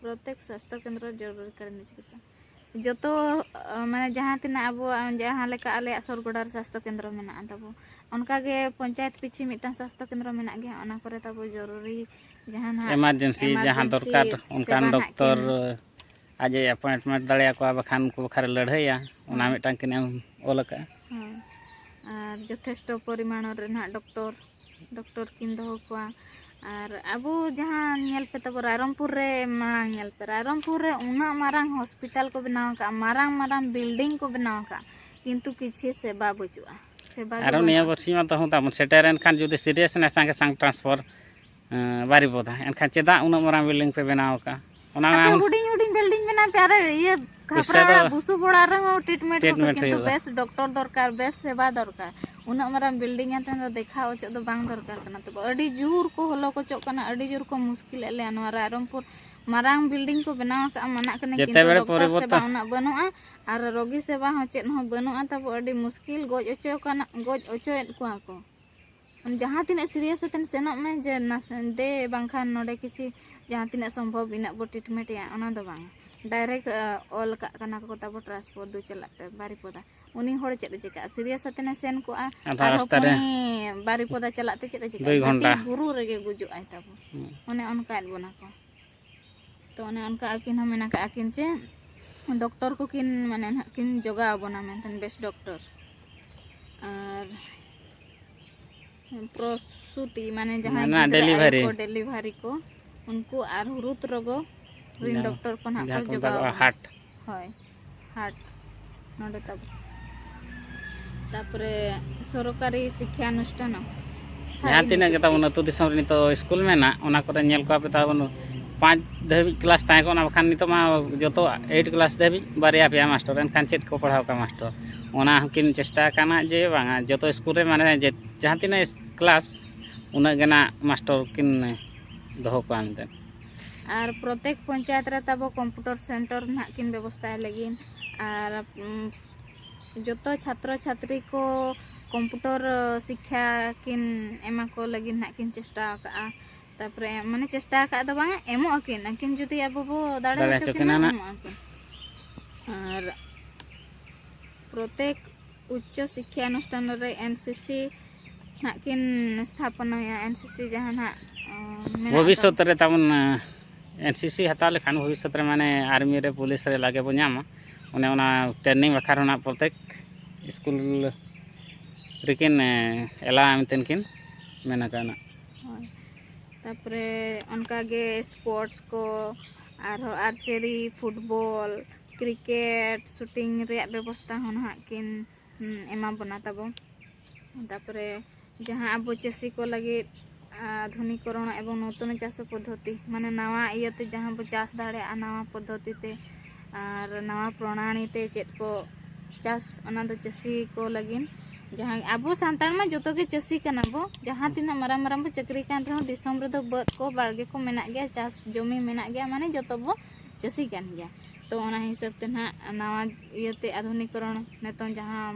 ᱯᱨᱚᱛᱮᱠ ᱥᱟᱥᱛᱚ ᱠᱮᱱᱫᱨᱚ ᱡᱚᱨᱩᱨᱤ ᱠᱟᱞᱤᱱ ᱪᱤᱠᱤᱛᱥᱟ ᱡᱚᱛᱚ ᱢᱟᱱᱮ ᱡᱟᱦᱟᱸ ᱛᱤᱱᱟᱹᱜ ᱟᱵᱚᱣᱟᱜ ᱡᱟᱦᱟᱸ ᱞᱮᱠᱟ ᱟᱞᱮᱭᱟᱜ ᱥᱚᱨ ᱜᱚᱰᱟ ᱨᱮ ᱥᱟᱥᱛᱚ ᱠᱮᱱᱫᱨᱚ ᱢᱮᱱᱟᱜᱼᱟ ᱛᱟᱵᱚ ᱚᱱᱠᱟ ᱜᱮ ᱯᱚᱧᱪᱟᱭᱮᱛ ᱯᱤᱪᱷᱤ ᱢᱤᱫᱴᱟᱝ ᱥᱟᱥᱛᱚ ᱠᱮᱱᱫᱨᱚ ᱢᱮᱱᱟᱜ ᱜᱮᱭᱟ ᱚᱱᱟ ᱠᱚᱨᱮ ᱛᱟᱵᱚ ᱡᱚᱨᱩᱨᱤ ᱡᱟᱦᱟᱸ ᱱᱟᱜ ᱮᱢᱟᱨᱡᱮᱱᱥᱤ ᱡᱟᱦᱟᱸ ᱫᱚᱨᱠᱟᱨ ᱚᱱᱠᱟᱱ ᱰᱚᱠᱴᱚᱨ ᱟᱡ ᱮ ᱮᱯᱚᱭᱮᱱᱴᱢᱮᱱᱴ ᱫᱟᱲᱮᱭᱟᱠᱚᱣᱟ ᱵᱟᱠᱷᱟᱱ ᱩᱱᱠᱩ ᱵᱟᱠᱷᱨᱟ ᱨᱮ ᱞᱟᱹᱲᱦᱟᱹᱭᱟ ᱚᱱᱟ ᱢᱤᱫᱴᱟᱝ ᱠᱤᱱ ᱮᱢ ᱚᱞ ᱟᱠᱟᱫᱼᱟ ᱟᱨ ᱡᱚᱛᱷᱮᱥᱴᱚ ᱯᱚᱨᱤᱢᱟᱬᱚ ᱨᱮ ᱱᱟᱦᱟᱜ ᱰᱚᱠᱴᱚᱨ ᱰᱚᱠᱴᱚᱨ ᱠᱤᱱ ᱫᱚᱦᱚ ᱠᱚᱣᱟ ᱟᱨ ᱟᱵᱚ ᱡᱟᱦᱟᱸ ᱧᱮᱞ ᱯᱮ ᱛᱟᱵᱚ ᱨᱟᱭᱨᱚᱝᱯᱩᱨ ᱨᱮ ᱢᱟᱲᱟᱝ ᱧᱮᱞ ᱯᱮ ᱨᱟᱭᱨᱚᱝᱯᱩᱨ ᱨᱮ ᱩᱱᱟᱹᱜ ᱢᱟᱨᱟᱝ ᱦᱚᱥᱯᱤᱴᱟᱞ ᱠᱚ ᱵᱮᱱᱟᱣ ᱟᱠᱟᱫᱼᱟ ᱢᱟᱨᱟᱝ ᱢᱟᱨᱟᱝ ᱵᱤᱞᱰᱤᱝ ᱠᱚ ᱵᱮᱱᱟᱣ ᱟᱠᱟᱫᱼᱟ ᱠᱤᱱᱛᱩ ᱠᱤᱪᱷᱩ ᱥᱮᱵᱟ ᱵᱟᱹᱪᱩᱜᱼᱟ ᱥᱮᱵᱟ ᱜᱮ ᱟᱨᱚ ᱱᱤᱭᱟᱹ ᱵᱟᱹᱱᱩᱜᱼᱟ ᱵᱟᱹᱨᱥᱤᱧ ᱢᱟ ᱛᱟᱹᱦᱩ ᱛᱟᱵᱚᱱ ᱥᱮᱴᱮᱨᱮᱱ ᱠᱷᱟᱱ ᱡᱩᱫᱤ ᱥᱤᱨᱤᱭᱟᱥ ᱮᱱᱟ ᱥᱟᱸᱜᱮ ᱥᱟᱝ ᱴᱨᱟᱱᱥᱯᱷᱚᱨ ᱵᱟᱨᱤᱯᱚᱫᱟ ᱮᱱᱠᱷᱟᱱ ᱪᱮᱫᱟᱜ ᱩᱱᱟᱹᱜ ᱢᱟᱨᱟᱝ ᱵᱤᱞᱰᱤᱝ ᱯᱮ ᱵᱮᱱᱟᱣ ᱟᱠᱟᱫᱼᱟ ᱚᱱᱟ ᱦᱩᱰᱤᱧ ᱦᱩᱰᱤᱧ ᱵᱤᱞᱰᱤᱝ ᱢᱮᱱᱟᱜ ᱯᱮ ᱟᱨ ᱤᱭᱟᱹ ᱠᱷᱟᱯᱨᱟ ᱚᱲᱟᱜ ᱵᱩᱥᱩᱵ ᱚᱲᱟᱜ ᱨᱮᱦᱚᱸ ᱴᱨᱤᱴᱢᱮᱱᱴ ᱦᱩᱭᱩᱜᱼᱟ ᱠᱤᱱᱛᱩ ᱵᱮᱥ ᱰᱚᱠᱴᱚᱨ ᱫᱚᱨᱠᱟᱨ ᱵᱮᱥ ᱥᱮᱵᱟ ᱫᱚᱨᱠᱟর ᱩᱱᱟᱹᱜ ᱢᱟᱨᱟᱝ ᱵᱤᱞᱰᱤᱝ ᱟᱛᱮ ᱫᱚ ᱫᱮᱠᱷᱟᱣ ᱚᱪᱚᱜ ᱫᱚ ᱵᱟᱝ ᱫᱚᱨᱠᱟর ᱠᱟᱱᱟ ᱛᱚᱵᱮ ᱟᱹᱰᱤ ᱡᱳᱨ ᱠᱚ ᱦᱚᱞᱚ ᱠᱚᱪᱚᱜ ᱠᱟᱱᱟ ᱟᱹᱰᱤ ᱡᱳᱨ ᱠᱚ ᱢᱩᱥᱠᱤᱞᱮᱫ ᱞᱮᱭᱟ ᱱᱚᱣᱟ ᱨᱟᱭᱨᱚᱝᱯᱩᱨ ᱢᱟᱨᱟᱝ ᱵᱤᱞᱰᱤᱝ ᱠᱚ ᱵᱮᱱᱟᱣ ᱟᱠᱟᱫᱼᱟ ᱢᱟᱱᱟᱜ ᱠᱟᱱᱟ ᱠᱤᱱᱛᱩ ᱰᱚᱠᱴᱚᱨ ᱥᱮᱵᱟ ᱩᱱᱟᱹᱜ ᱵᱟᱹᱱᱩᱜᱼᱟ ᱟᱨ ᱨᱳᱜᱤ ᱥᱮᱵᱟ ᱦᱚᱸ ᱪᱮᱫ ᱦᱚᱸ ᱵᱟᱹᱱᱩᱜᱼᱟ ᱛᱟᱵᱚ ᱟᱹᱰᱤ ᱢᱩᱥᱠᱤᱞ ᱜᱚᱡ ᱚᱪᱚ ᱠᱟᱱᱟ ᱜᱚᱡ ᱚᱪᱚᱭᱮᱫ ᱠᱚᱣᱟ ᱠᱚ ᱡᱟᱦᱟᱸ ᱛᱤᱱᱟᱹᱜ ᱥᱤᱨᱤᱭᱟᱥ ᱠᱟᱛᱮ ᱥᱮᱱᱚᱜ ᱢᱮ ᱡᱮ ᱱᱟᱥᱮ ᱫᱮ ᱵᱟᱝᱠᱷᱟᱱ ᱱᱚᱰᱮ ᱠᱤᱪᱷᱤ ᱡᱟᱦᱟᱸ ᱛᱤᱱᱟᱹᱜ ᱥᱚᱢᱵᱷᱚᱵ ᱤᱱᱟᱹᱜ ᱵᱚ ᱴᱨᱤᱴᱢᱮᱱᱴ ᱮᱭᱟ ᱚᱱᱟ ᱫᱚ ᱵᱟᱝ ᱰᱟᱭᱨᱮᱠᱴ ᱚᱞ ᱠᱟᱜ ᱠᱟᱱᱟ ᱠᱚ ᱛᱟᱵᱚ ᱴᱨᱟᱱᱥᱯᱳᱨᱴ ᱫᱚ ᱪᱟᱞᱟᱜ ᱯᱮ ᱵᱟᱨᱤᱯᱚᱫᱟ ᱩᱱᱤ ᱦᱚᱲ ᱪᱮᱫ ᱮ ᱪᱤᱠᱟᱹᱜᱼᱟ ᱥᱤᱨᱤᱭᱟᱥ ᱠᱟᱛᱮ ᱥᱮᱱ ᱠᱚᱜᱼᱟ ᱟᱨ ᱦᱚᱯᱚᱱᱤ ᱵᱟᱨᱤᱯᱚᱫᱟ ᱪᱟᱞᱟᱜ ᱛᱮ ᱪᱮᱫ ᱮ ᱪᱤᱠᱟᱹᱜᱼᱟ ᱵᱩᱨᱩ ᱨᱮᱜᱮ ᱜᱩᱡᱩᱜ ᱟᱭ ᱛᱟᱵᱚ ᱚᱱᱮ ᱚᱱᱠᱟᱭᱮᱫ ᱵᱚᱱᱟ ᱠᱚ ᱛᱚ ᱚᱱᱮ ᱚᱱᱠᱟ ᱟᱹᱠᱤᱱ ᱦᱚᱸ ᱢᱮᱱ ᱟᱠᱟᱫ ᱟᱹᱠᱤᱱ ᱡᱮ ᱰᱚᱠᱴᱚᱨ ᱠᱚᱠᱤᱱ ᱢᱟᱱᱮ ᱱᱟᱦᱟᱜ ᱠᱤᱱ ᱡᱚᱜᱟᱣ ᱟᱵᱚᱱᱟ ᱢᱮᱱᱛᱮ ᱵᱮᱥ ᱰᱚᱠᱴᱚᱨ ᱟᱨ ᱯᱨᱚᱥᱩᱛᱤ ᱢᱟᱱᱮ ᱡᱟᱦᱟᱸᱭ ᱢᱟᱱᱮ ᱜᱤᱫᱽᱨᱟᱹ ᱟᱭᱳ delivery. ᱠᱚ ᱰᱮᱞᱤᱵᱷᱟᱨᱤ ᱠᱚ ᱩᱱᱠᱩ ᱟᱨ ᱦᱩᱨᱩᱛ ᱨᱚᱜᱚ ᱨᱤᱱ ᱰᱚᱠᱴᱚᱨ ᱠᱚ ᱱᱟᱦᱟᱜ ᱡᱟᱦᱟᱸ ᱠᱚ ᱠᱚ ᱢᱮᱛᱟ ᱡᱚᱜᱟᱣ ᱠᱚᱣᱟ ᱟᱵᱚᱱᱟ᱾ ᱦᱟᱴ ᱦᱳᱭ ᱦᱟᱴ ᱱᱚᱰᱮ ᱛᱟᱵᱚ ᱛᱟᱯᱚᱨᱮ ᱥᱚᱨᱠᱟᱨᱤ ᱥᱤᱠᱠᱷᱟ ᱚᱱᱩᱥᱴᱷᱟᱱ ᱡᱟᱦᱟᱸ ᱛᱤᱱᱟᱹᱜ ᱜᱮ ᱛᱟᱵᱚᱱ ᱟᱹᱛᱩ ᱫᱤᱥᱚᱢ ᱨᱮ ᱱᱤᱛᱚᱜ ᱥᱠᱩᱞ ᱢᱮᱱᱟᱜ ᱚᱱᱟ ᱠᱚᱨᱮ ᱧᱮᱞ ᱠᱚᱣᱟ ᱯᱮ ᱛᱟᱵᱚᱱ ᱯᱟᱸᱪ ᱫᱷᱟᱹᱵᱤᱡ ᱠᱞᱟᱥ ᱛᱟᱦᱮᱸ ᱠᱚᱜᱼᱟ ᱵᱟᱠᱷᱟᱱ ᱱᱤᱛᱚᱜ ᱢᱟ ᱡᱚᱛᱚ ᱮᱭᱤᱴ ᱠᱞᱟᱥ ᱫᱷᱟᱹᱵᱤᱡ ᱵᱟᱨᱭᱟ ᱯᱮᱭᱟ ᱢᱟᱥᱴᱚᱨ ᱮᱱᱠᱷᱟᱱ ᱪᱮᱫ ᱠᱚ ᱯᱟᱲᱦᱟᱣ ᱠᱚᱣᱟ ᱢᱟᱥᱴᱚᱨ ᱚᱱᱟ ᱦᱚᱸᱠᱤᱱ ᱪᱮᱥᱴᱟ ᱟᱠᱟᱱᱟ ᱡᱮ ᱵᱟᱝᱟ ᱡᱚᱛᱚ ᱥᱠᱩᱞ ᱨᱮ ᱢᱟᱱᱮ ᱡᱟᱦᱟᱸ ᱛᱤᱱᱟᱹᱜ ᱠᱞᱟᱥ ᱩᱱᱟᱹᱜ ᱜᱮ ᱱᱟᱜ ᱢᱟᱥᱴᱚᱨ ᱠᱤᱱ ᱫᱚᱦᱚ ᱠᱚᱣᱟ ᱢᱮᱱᱛᱮ ᱟᱨ ᱯᱨᱚᱛᱮᱠ ᱯᱚᱧᱪᱟᱭᱮᱛ ᱨᱮ ᱛᱟᱵᱚ ᱠᱚᱢᱯᱩᱴᱚᱨ ᱥᱮᱱᱴᱚᱨ ᱱᱟᱦᱟᱜ ᱠᱤᱱ ᱵᱮᱵᱚᱥᱛᱟᱭ ᱞᱟᱹᱜᱤᱫ ᱟᱨ ᱡᱚᱛᱚ ᱪᱷᱟᱛᱨᱚ ᱪᱷᱟᱛᱨᱤ ᱠᱚ ᱠᱚᱢᱯᱩᱴᱚᱨ ᱥᱤᱠᱠᱷᱟ ᱠᱤᱱ ᱮᱢᱟ ᱠᱚ ᱞᱟᱹᱜᱤᱫ ᱱᱟᱦᱟᱜ ᱠᱤᱱ ᱪᱮᱥᱴᱟ ᱟᱠᱟᱫᱼᱟ ᱛᱟᱨᱯᱚᱨᱮ ᱢᱟᱱᱮ ᱪᱮᱥᱴᱟ ᱟᱠᱟᱫ ᱫᱚ ᱵᱟᱝ ᱮᱢᱚᱜ ᱟᱹᱠᱤᱱ ᱟᱹᱠᱤᱱ ᱡᱩᱫᱤ ᱟᱵᱚ ᱵᱚ ᱫᱟᱲᱮ ᱦᱚᱪᱚ ᱠᱤᱱᱟ ᱮᱢᱚᱜ ᱟᱹᱠᱤᱱ ᱟᱨ ᱯᱨᱚᱛᱮᱠ ᱩᱪᱪᱚ ᱥᱤᱠᱠᱷᱟ ᱚᱱᱩᱥᱴᱷᱟᱱ ᱨᱮ ᱮᱱ ᱥᱤ ᱥᱤ ᱱᱟᱜ ᱠᱤᱱ ᱥᱛᱷᱟᱯᱚᱱᱟᱭᱟ ᱮᱱ ᱥᱤ ᱥᱤ ᱡᱟᱦᱟᱸ ᱱᱟᱜ ᱵᱷᱚᱵᱤᱥᱚᱛ ᱨᱮ ᱛᱟᱵᱚᱱ ᱮᱱ ᱥᱤ ᱥᱤ ᱦᱟᱛᱟᱣ ᱞᱮᱠᱷᱟᱱ ᱵᱷᱚᱵᱤᱥᱚᱛ ᱨᱮ ᱢᱟᱱᱮ ᱟᱨᱢᱤ ᱨᱮ ᱯᱩᱞᱤᱥ ᱨᱮ ᱞᱟᱜᱮ ᱵᱚ ᱧᱟᱢᱟ ᱚᱱᱮ ᱚᱱᱟ ᱴᱨᱮᱱᱤᱝ ᱵᱟᱠᱷᱨᱟ ᱨᱮᱱᱟᱜ ᱯᱨᱚᱛᱮᱠ ᱥᱠᱩᱞ ᱨᱮᱠᱤᱱ ᱮᱞᱟ ᱢᱮᱱᱛᱮ ᱠᱤᱱ ᱢᱮᱱ ᱟᱠᱟᱱᱟ ᱛᱟᱯᱚᱨᱮ ᱚᱱᱠᱟᱜᱮ ᱥᱯᱳᱨᱴᱥ ᱠᱚ ᱟᱨᱦᱚᱸ ᱟᱨᱪᱟᱨᱤ ᱯᱷᱩᱴᱵᱚᱞ ᱠᱨᱤᱠᱮᱴ ᱥᱩᱴᱤᱝ ᱨᱮᱭᱟᱜ ᱵᱮᱵᱚᱥᱛᱟ ᱦᱚᱸ ᱱᱟᱦᱟᱜ ᱠᱤᱱ ᱮᱢᱟ ᱵᱚᱱᱟ ᱛᱟᱵᱚ ᱛᱟᱨᱯᱚᱨᱮ ᱡᱟᱦᱟᱸ ᱟᱵᱚ ᱪᱟᱹᱥᱤ ᱠᱚ ᱞᱟᱹᱜᱤᱫ ᱟᱫᱷᱩᱱᱤᱠᱚᱨᱚᱱ ᱮᱵᱚᱝ ᱱᱩᱛᱚᱱ ᱪᱟᱥ ᱯᱚᱫᱽᱫᱷᱚᱛᱤ ᱢᱟᱱᱮ ᱱᱟᱣᱟ ᱤᱭᱟᱹᱛᱮ ᱡᱟᱦᱟᱸ ᱵᱚ ᱪᱟᱥ ᱫᱟᱲᱮᱭᱟᱜᱼᱟ ᱱᱟᱣᱟ ᱯᱚᱫᱽᱫᱷᱚᱛᱤ ᱛᱮ ᱟᱨ ᱱᱟᱣᱟ ᱯᱨᱚᱱᱟᱞᱤ ᱛᱮ ᱪᱮᱫ ᱠᱚ ᱪᱟᱥ ᱚᱱᱟ ᱫᱚ ᱪᱟᱹᱥᱤ ᱠᱚ ᱞᱟᱹᱜᱤᱫ ᱡᱟᱦᱟᱸ ᱟᱵᱚ ᱥᱟᱱᱛᱟᱲ ᱢᱟ ᱡᱚᱛᱚ ᱜᱮ ᱪᱟᱹᱥᱤ ᱠᱟᱱᱟ ᱵᱚ ᱡᱟᱦᱟᱸ ᱛᱤᱱᱟᱹᱜ ᱢᱟᱨᱟᱝ ᱢᱟᱨᱟᱝ ᱵᱚ ᱪᱟᱹᱠᱨᱤ ᱠᱟᱱ ᱨᱮᱦᱚᱸ ᱫᱤᱥᱚᱢ ᱨᱮᱫᱚ ᱵᱟᱹᱫᱽ ᱠᱚ ᱵᱟᱲᱜᱮ ᱠᱚ ᱢᱮᱱᱟᱜ ᱜᱮᱭᱟ ᱪᱟᱥ ᱡᱚᱢᱤ ᱢᱮᱱᱟᱜ ᱜᱮᱭᱟ ᱢᱟᱱᱮ ᱡᱚᱛᱚ ᱵᱚ ᱪᱟᱹᱥᱤ ᱠᱟᱱ ᱜᱮᱭᱟ ᱛᱚ ᱚᱱᱟ ᱦᱤᱥᱟᱹᱵ ᱛᱮ ᱱᱟᱜ ᱱᱟᱣᱟ ᱤᱭᱟᱹᱛᱮ ᱟᱫᱷᱩᱱᱤᱠ ᱠᱚᱨᱚᱱ ᱱᱤᱛᱚᱝ ᱡᱟᱦᱟᱸ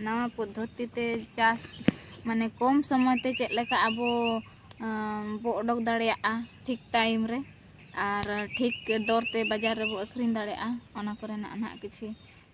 ᱱᱟᱣᱟ ᱯᱚᱫᱽᱫᱷᱚᱛᱤ ᱛᱮ ᱪᱟᱥ ᱢᱟᱱᱮ ᱠᱚᱢ ᱥᱚᱢᱚᱭ ᱛᱮ ᱪᱮᱫ ᱞᱮᱠᱟ ᱟᱵᱚ ᱵᱚ ᱚᱰᱚᱠ ᱫᱟᱲᱮᱭᱟᱜᱼᱟ ᱴᱷᱤᱠ ᱴᱟᱭᱤᱢ ᱨᱮ ᱟᱨ ᱴᱷᱤᱠ ᱫᱚᱨ ᱛᱮ ᱵᱟᱡᱟᱨ ᱨᱮᱵᱚ ᱟᱹᱠᱷᱨᱤᱧ ᱫᱟᱲᱮᱭᱟᱜᱼᱟ ᱚᱱᱟ ᱠᱚᱨᱮᱱᱟᱜ ᱱᱟᱜ ᱠᱤᱪᱷᱤ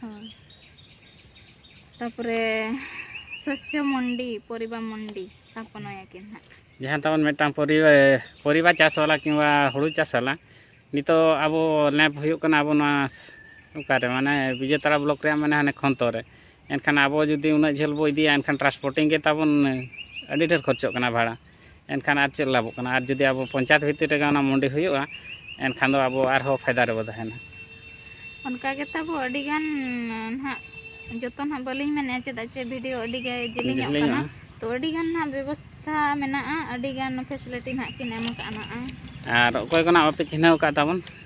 ᱦᱳᱭ ᱛᱟᱯᱚᱨᱮ ᱥᱚᱥᱭᱚ ᱢᱚᱱᱰᱤ ᱯᱚᱨᱤᱵᱟ ᱢᱚᱱᱰᱤ ᱥᱛᱷᱟᱯᱚᱱᱟᱭᱟᱠᱤᱱ ᱦᱟᱸᱜ ᱡᱟᱦᱟᱸ ᱛᱟᱵᱚᱱ ᱢᱤᱫᱴᱟᱝ ᱯᱚᱨᱤᱵᱟ ᱯᱚᱨᱤᱵᱟ ᱪᱟᱥ ᱵᱟᱞᱟ ᱠᱤᱝᱵᱟ ᱦᱩᱲᱩ ᱪᱟᱥ ᱵᱟᱞᱟ ᱱᱤᱛᱚᱜ ᱟᱵᱚ ᱞᱮᱢᱯ ᱦᱩᱭᱩᱜ ᱠᱟᱱᱟ ᱟᱵᱚ ᱱᱚᱣᱟ ᱚᱠᱟᱨᱮ ᱢᱟᱱᱮ ᱵᱤᱡᱮᱛᱟᱲᱟ ᱵᱞᱚᱠ ᱨᱮᱭᱟᱜ ᱢᱟᱱᱮ ᱦᱟᱱᱮ ᱠᱷᱚᱱᱛᱚ ᱨᱮ ᱮᱱᱠᱷᱟᱱ ᱟᱵᱚ ᱡᱩᱫᱤ ᱩᱱᱟᱹᱜ ᱡᱷᱟᱹᱞ ᱵᱚ ᱤᱫᱤᱭᱟ ᱮᱱᱠᱷᱟᱱ ᱴᱨᱟᱱᱥᱯᱳᱨᱴᱤᱝ ᱜᱮ ᱛᱟᱵᱚᱱ ᱟᱹᱰᱤ ᱰᱷᱮᱨ ᱠᱷᱚᱨᱪᱚᱜ ᱠᱟᱱᱟ ᱵᱷᱟᱲᱟ ᱮᱱᱠᱷᱟᱱ ᱟᱨ ᱪᱮᱫ ᱞᱟᱵᱷᱚᱜ ᱠᱟᱱᱟ ᱟᱨ ᱡᱩᱫᱤ ᱟᱵᱚ ᱯᱚᱧᱪᱟᱭᱮᱛ ᱵᱷᱤᱛᱤᱨ ᱨᱮᱜᱮ ᱚᱱᱟ ᱢᱩᱱᱰᱤ ᱦᱩᱭᱩᱜᱼᱟ ᱮᱱᱠᱷᱟᱱ ᱫᱚ ᱟᱵᱚ ᱟᱨᱦᱚᱸ ᱯᱷᱟᱭᱫᱟ ᱨᱮᱵᱚ ᱛᱟᱦᱮᱱᱟ ᱚᱱᱠᱟ ᱜᱮ ᱛᱟᱵᱚ ᱟᱹᱰᱤ ᱜᱟᱱ ᱱᱟᱦᱟᱜ ᱡᱚᱛᱚ ᱱᱟᱦᱟᱜ ᱵᱟᱹᱞᱤᱧ ᱢᱮᱱᱮᱜᱼᱟ ᱪᱮᱫᱟᱜ ᱪᱮ ᱵᱷᱤᱰᱤᱭᱳ ᱟᱹᱰᱤ ᱜᱮ ᱡᱮᱞᱮᱧᱚᱜ ᱠᱟᱱᱟ ᱛᱚ ᱟᱹᱰᱤ ᱜᱟᱱ ᱱᱟᱦᱟᱜ ᱵᱮᱵᱚᱥᱛᱷᱟ ᱢᱮᱱᱟᱜᱼᱟ ᱟᱹᱰᱤ ᱜᱟᱱ ᱯᱷᱮᱥᱤᱞᱤᱴᱤ ᱱᱟᱦᱟᱜ ᱠᱤᱱ ᱮᱢ ᱠᱟᱜᱼᱟ ᱱᱟᱦᱟᱜ ᱟᱨ ᱚᱠᱚᱭ ᱠᱚ ᱱᱟᱦᱟᱜ ᱵᱟᱯᱮ ᱪᱤᱱᱦᱟᱹᱣ ᱠᱟᱜ ᱛᱟᱵᱚᱱ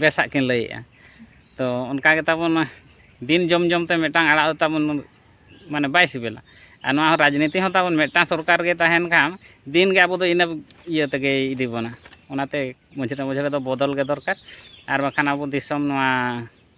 ᱵᱮᱥᱟᱜ ᱠᱤᱱ ᱞᱟᱹᱭᱮᱜᱼᱟ ᱛᱚ ᱚᱱᱠᱟ ᱜᱮ ᱛᱟᱵᱚᱱ ᱫᱤᱱ ᱡᱚᱢ ᱡᱚᱢ ᱛᱮ ᱢᱤᱫᱴᱟᱝ ᱟᱲᱟᱜ ᱫᱚ ᱛᱟᱵᱚᱱ ᱢᱟᱱᱮ ᱵᱟᱭ ᱥᱤᱵᱤᱞᱟ ᱟᱨ ᱱᱚᱣᱟ ᱨᱟᱡᱽᱱᱤᱛᱤ ᱦᱚᱸ ᱛᱟᱵᱚᱱ ᱢᱤᱫᱴᱟᱝ ᱥᱚᱨᱠᱟᱨ ᱜᱮ ᱛᱟᱦᱮᱱ ᱠᱷᱟᱱ ᱫᱤᱱ ᱜᱮ ᱟᱵᱚ ᱫᱚ ᱤᱱᱟᱹ ᱤᱭᱟᱹ ᱛᱮᱜᱮᱭ ᱤᱫᱤ ᱵᱚᱱᱟ ᱚᱱᱟᱛᱮ ᱢᱟᱹᱡᱷᱤ ᱨᱮ ᱢᱟᱹᱡᱷᱤ ᱨᱮᱫᱚ ᱵᱚᱫᱚᱞ ᱜᱮ ᱫᱚᱨᱠᱟᱨ ᱟᱨ ᱵᱟᱠᱷᱟᱱ ᱟᱵᱚ ᱫᱤᱥᱚᱢ ᱱᱚᱣᱟ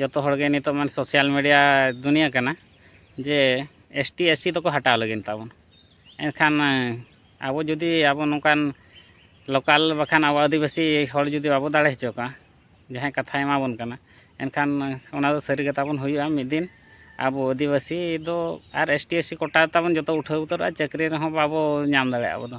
ᱡᱚᱛᱚ ᱦᱚᱲ ᱜᱮ ᱱᱤᱛᱚᱜ ᱢᱟᱱᱮ ᱥᱳᱥᱟᱞ ᱢᱤᱰᱤᱭᱟ ᱫᱩᱱᱤᱭᱟᱹ ᱠᱟᱱᱟ ᱡᱮ ᱮᱥ ᱴᱤ ᱮᱥ ᱥᱤ ᱫᱚᱠᱚ ᱦᱟᱴᱟᱣ ᱞᱟᱹᱜᱤᱫ ᱛᱟᱵᱚᱱ ᱮᱱᱠᱷᱟᱱ ᱟᱵᱚ ᱡᱩᱫᱤ ᱟᱵᱚ ᱱᱚᱝᱠᱟᱱ ᱞᱳᱠᱟᱞ ᱵᱟᱠᱷᱟᱱ ᱟᱵᱚ ᱟᱹᱫᱤᱵᱟᱹᱥᱤ ᱦᱚᱲ ᱡᱩᱫᱤ ᱵᱟᱵᱚ ᱫᱟᱲᱮ ᱦᱚᱪᱚ ᱠᱚᱣᱟ ᱡᱟᱦᱟᱸᱭ ᱠᱟᱛᱷᱟᱭ ᱮᱢᱟ ᱵᱚᱱ ᱠᱟᱱᱟ ᱮᱱᱠᱷᱟᱱ ᱚᱱᱟ ᱫᱚ ᱥᱟᱹᱨᱤ ᱜᱮ ᱛᱟᱵᱚᱱ ᱦᱩᱭᱩᱜᱼᱟ ᱢᱤᱫ ᱫᱤᱱ ᱟᱵᱚ ᱟᱹᱫᱤᱵᱟᱹᱥᱤ ᱫᱚ ᱟᱨ S T S C quota ᱛᱟᱵᱚᱱ ᱡᱚᱛᱚ ᱩᱴᱷᱟᱹᱣ ᱩᱛᱟᱹᱨᱚᱜᱼᱟ ᱪᱟᱹᱠᱨᱤ ᱨᱮᱦᱚᱸ ᱵᱟᱵᱚ ᱧᱟᱢ ᱫᱟᱲᱮᱭᱟᱜᱼᱟ ᱟᱵᱚ ᱫᱚ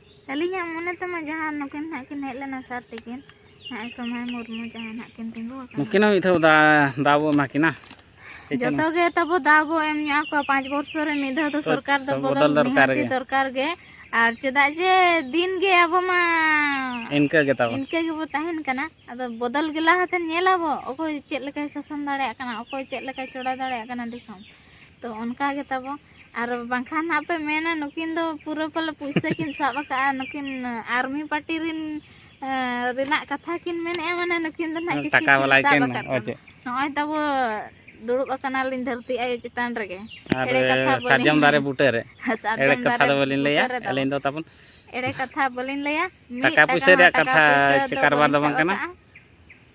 ᱟᱹᱞᱤᱧᱟᱜ ᱢᱚᱱᱮ ᱛᱮᱢᱟ ᱡᱟᱦᱟᱸ ᱱᱩᱠᱤᱱ ᱦᱟᱸᱜ ᱠᱤᱱ ᱦᱮᱡ ᱞᱮᱱᱟ ᱥᱟᱨ ᱛᱤᱠᱤᱱ ᱦᱟᱸᱜ ᱥᱚᱢᱟᱭ ᱢᱩᱨᱢᱩ ᱡᱟᱦᱟᱸ ᱦᱟᱸᱜ ᱠᱤᱱ ᱛᱤᱸᱜᱩ ᱟᱠᱟᱱᱟ ᱱᱩᱠᱤᱱ ᱦᱚᱸ ᱢᱤᱫ ᱫᱷᱟᱣ ᱫᱟᱣ ᱵᱚ ᱮᱢᱟ ᱠᱤᱱᱟ ᱡᱚᱛᱚ ᱜᱮ ᱛᱟᱵᱚ ᱫᱟᱣ ᱵᱚ ᱮᱢ ᱧᱚᱜ ᱟᱠᱚᱣᱟ ᱯᱟᱸᱪ ᱵᱚᱨᱥᱚ ᱨᱮ ᱢᱤᱫ ᱫᱷᱟᱣ ᱫᱚ ᱥᱚᱨᱠᱟᱨ ᱫᱚ ᱵᱚᱫᱚᱞ ᱱᱤᱦᱟᱹᱛᱤ ᱫᱚᱨᱠᱟᱨ ᱜᱮ ᱟᱨ ᱪᱮᱫᱟᱜ ᱡᱮ ᱫᱤᱱ ᱜᱮ ᱟᱵᱚ ᱢᱟ ᱤᱱᱠᱟᱹ ᱜᱮ ᱛᱟᱵᱚ ᱤᱱᱠᱟᱹ ᱜᱮᱵᱚ ᱛᱟᱦᱮᱱ ᱠᱟᱱᱟ ᱟᱫᱚ ᱵᱚᱫᱚᱞ ᱜᱮ ᱞᱟᱦᱟᱛᱮ ᱧᱮᱞᱟᱵᱚ ᱚᱠᱚᱭ ᱪᱮᱫ ᱞᱮᱠᱟᱭ ᱥᱟᱥᱚᱱ ᱫᱟᱲᱮᱭᱟᱜ ᱠᱟᱱᱟ ᱚᱠᱚᱭ ᱪᱮᱫ ᱞᱮᱠᱟᱭ ᱪᱚᱲᱟ ᱫᱟᱲᱮᱭᱟᱜ ᱠᱟᱱᱟ ᱫᱤᱥᱚᱢ ᱛᱚ ᱚᱱᱠᱟ ᱜᱮ ᱛᱟᱵᱚ ᱟᱨ ᱵᱟᱝᱠᱷᱟᱱ ᱦᱟᱸᱜ ᱯᱮ ᱢᱮᱱᱟ ᱱᱩᱠᱤᱱ ᱫᱚ ᱯᱩᱨᱟᱹ ᱯᱟᱞᱮ ᱯᱩᱭᱥᱟᱹ ᱠᱤᱱ ᱥᱟᱵ ᱟᱠᱟᱫᱼᱟ ᱱᱩᱠᱤᱱ ᱟᱨᱢᱤ ᱯᱟᱨᱴᱤ ᱨᱤᱱ ᱨᱮᱱᱟᱜ ᱠᱟᱛᱷᱟ ᱠᱤᱱ ᱢᱮᱱᱮᱫᱼᱟ ᱢᱟᱱᱮ ᱱᱩᱠᱤᱱ ᱫᱚ ᱱᱟᱦᱟᱜ ᱠᱤᱪᱷᱩ ᱠᱤᱱ ᱥᱟᱵ ᱟᱠᱟᱫ ᱠᱚᱣᱟ ᱱᱚᱜᱼᱚᱭ ᱛᱟᱵᱚ ᱫᱩᱲᱩᱵ ᱟᱠᱟᱱᱟᱞᱤᱧ ᱫᱷᱟᱹᱨᱛᱤ ᱟᱭᱳ ᱪᱮᱛᱟᱱ ᱨᱮᱜᱮ ᱮᱲᱮ ᱠᱟᱛᱷᱟ ᱥᱟᱨᱡᱚᱢ ᱫᱟᱨᱮ ᱵᱩᱴᱟᱹ ᱨᱮ ᱥᱟᱨᱡᱚᱢ ᱫᱟᱨᱮ ᱫᱚ ᱵᱟᱹᱞᱤᱧ ᱞᱟᱹᱭᱟ ᱟᱹᱞᱤᱧ ᱫᱚ ᱛᱟᱵᱚᱱ ᱮᱲᱮ ᱠᱟᱛᱷᱟ ᱵᱟᱹᱞᱤᱧ ᱞᱟᱹᱭᱟ ᱴᱟᱠᱟ ᱯᱩᱭᱥᱟᱹ ᱨᱮᱭᱟᱜ ᱠᱟᱛᱷᱟ ᱪᱮ ᱠᱟᱨᱵᱟᱨ ᱫᱚ ᱵᱟᱝ ᱠᱟᱱᱟ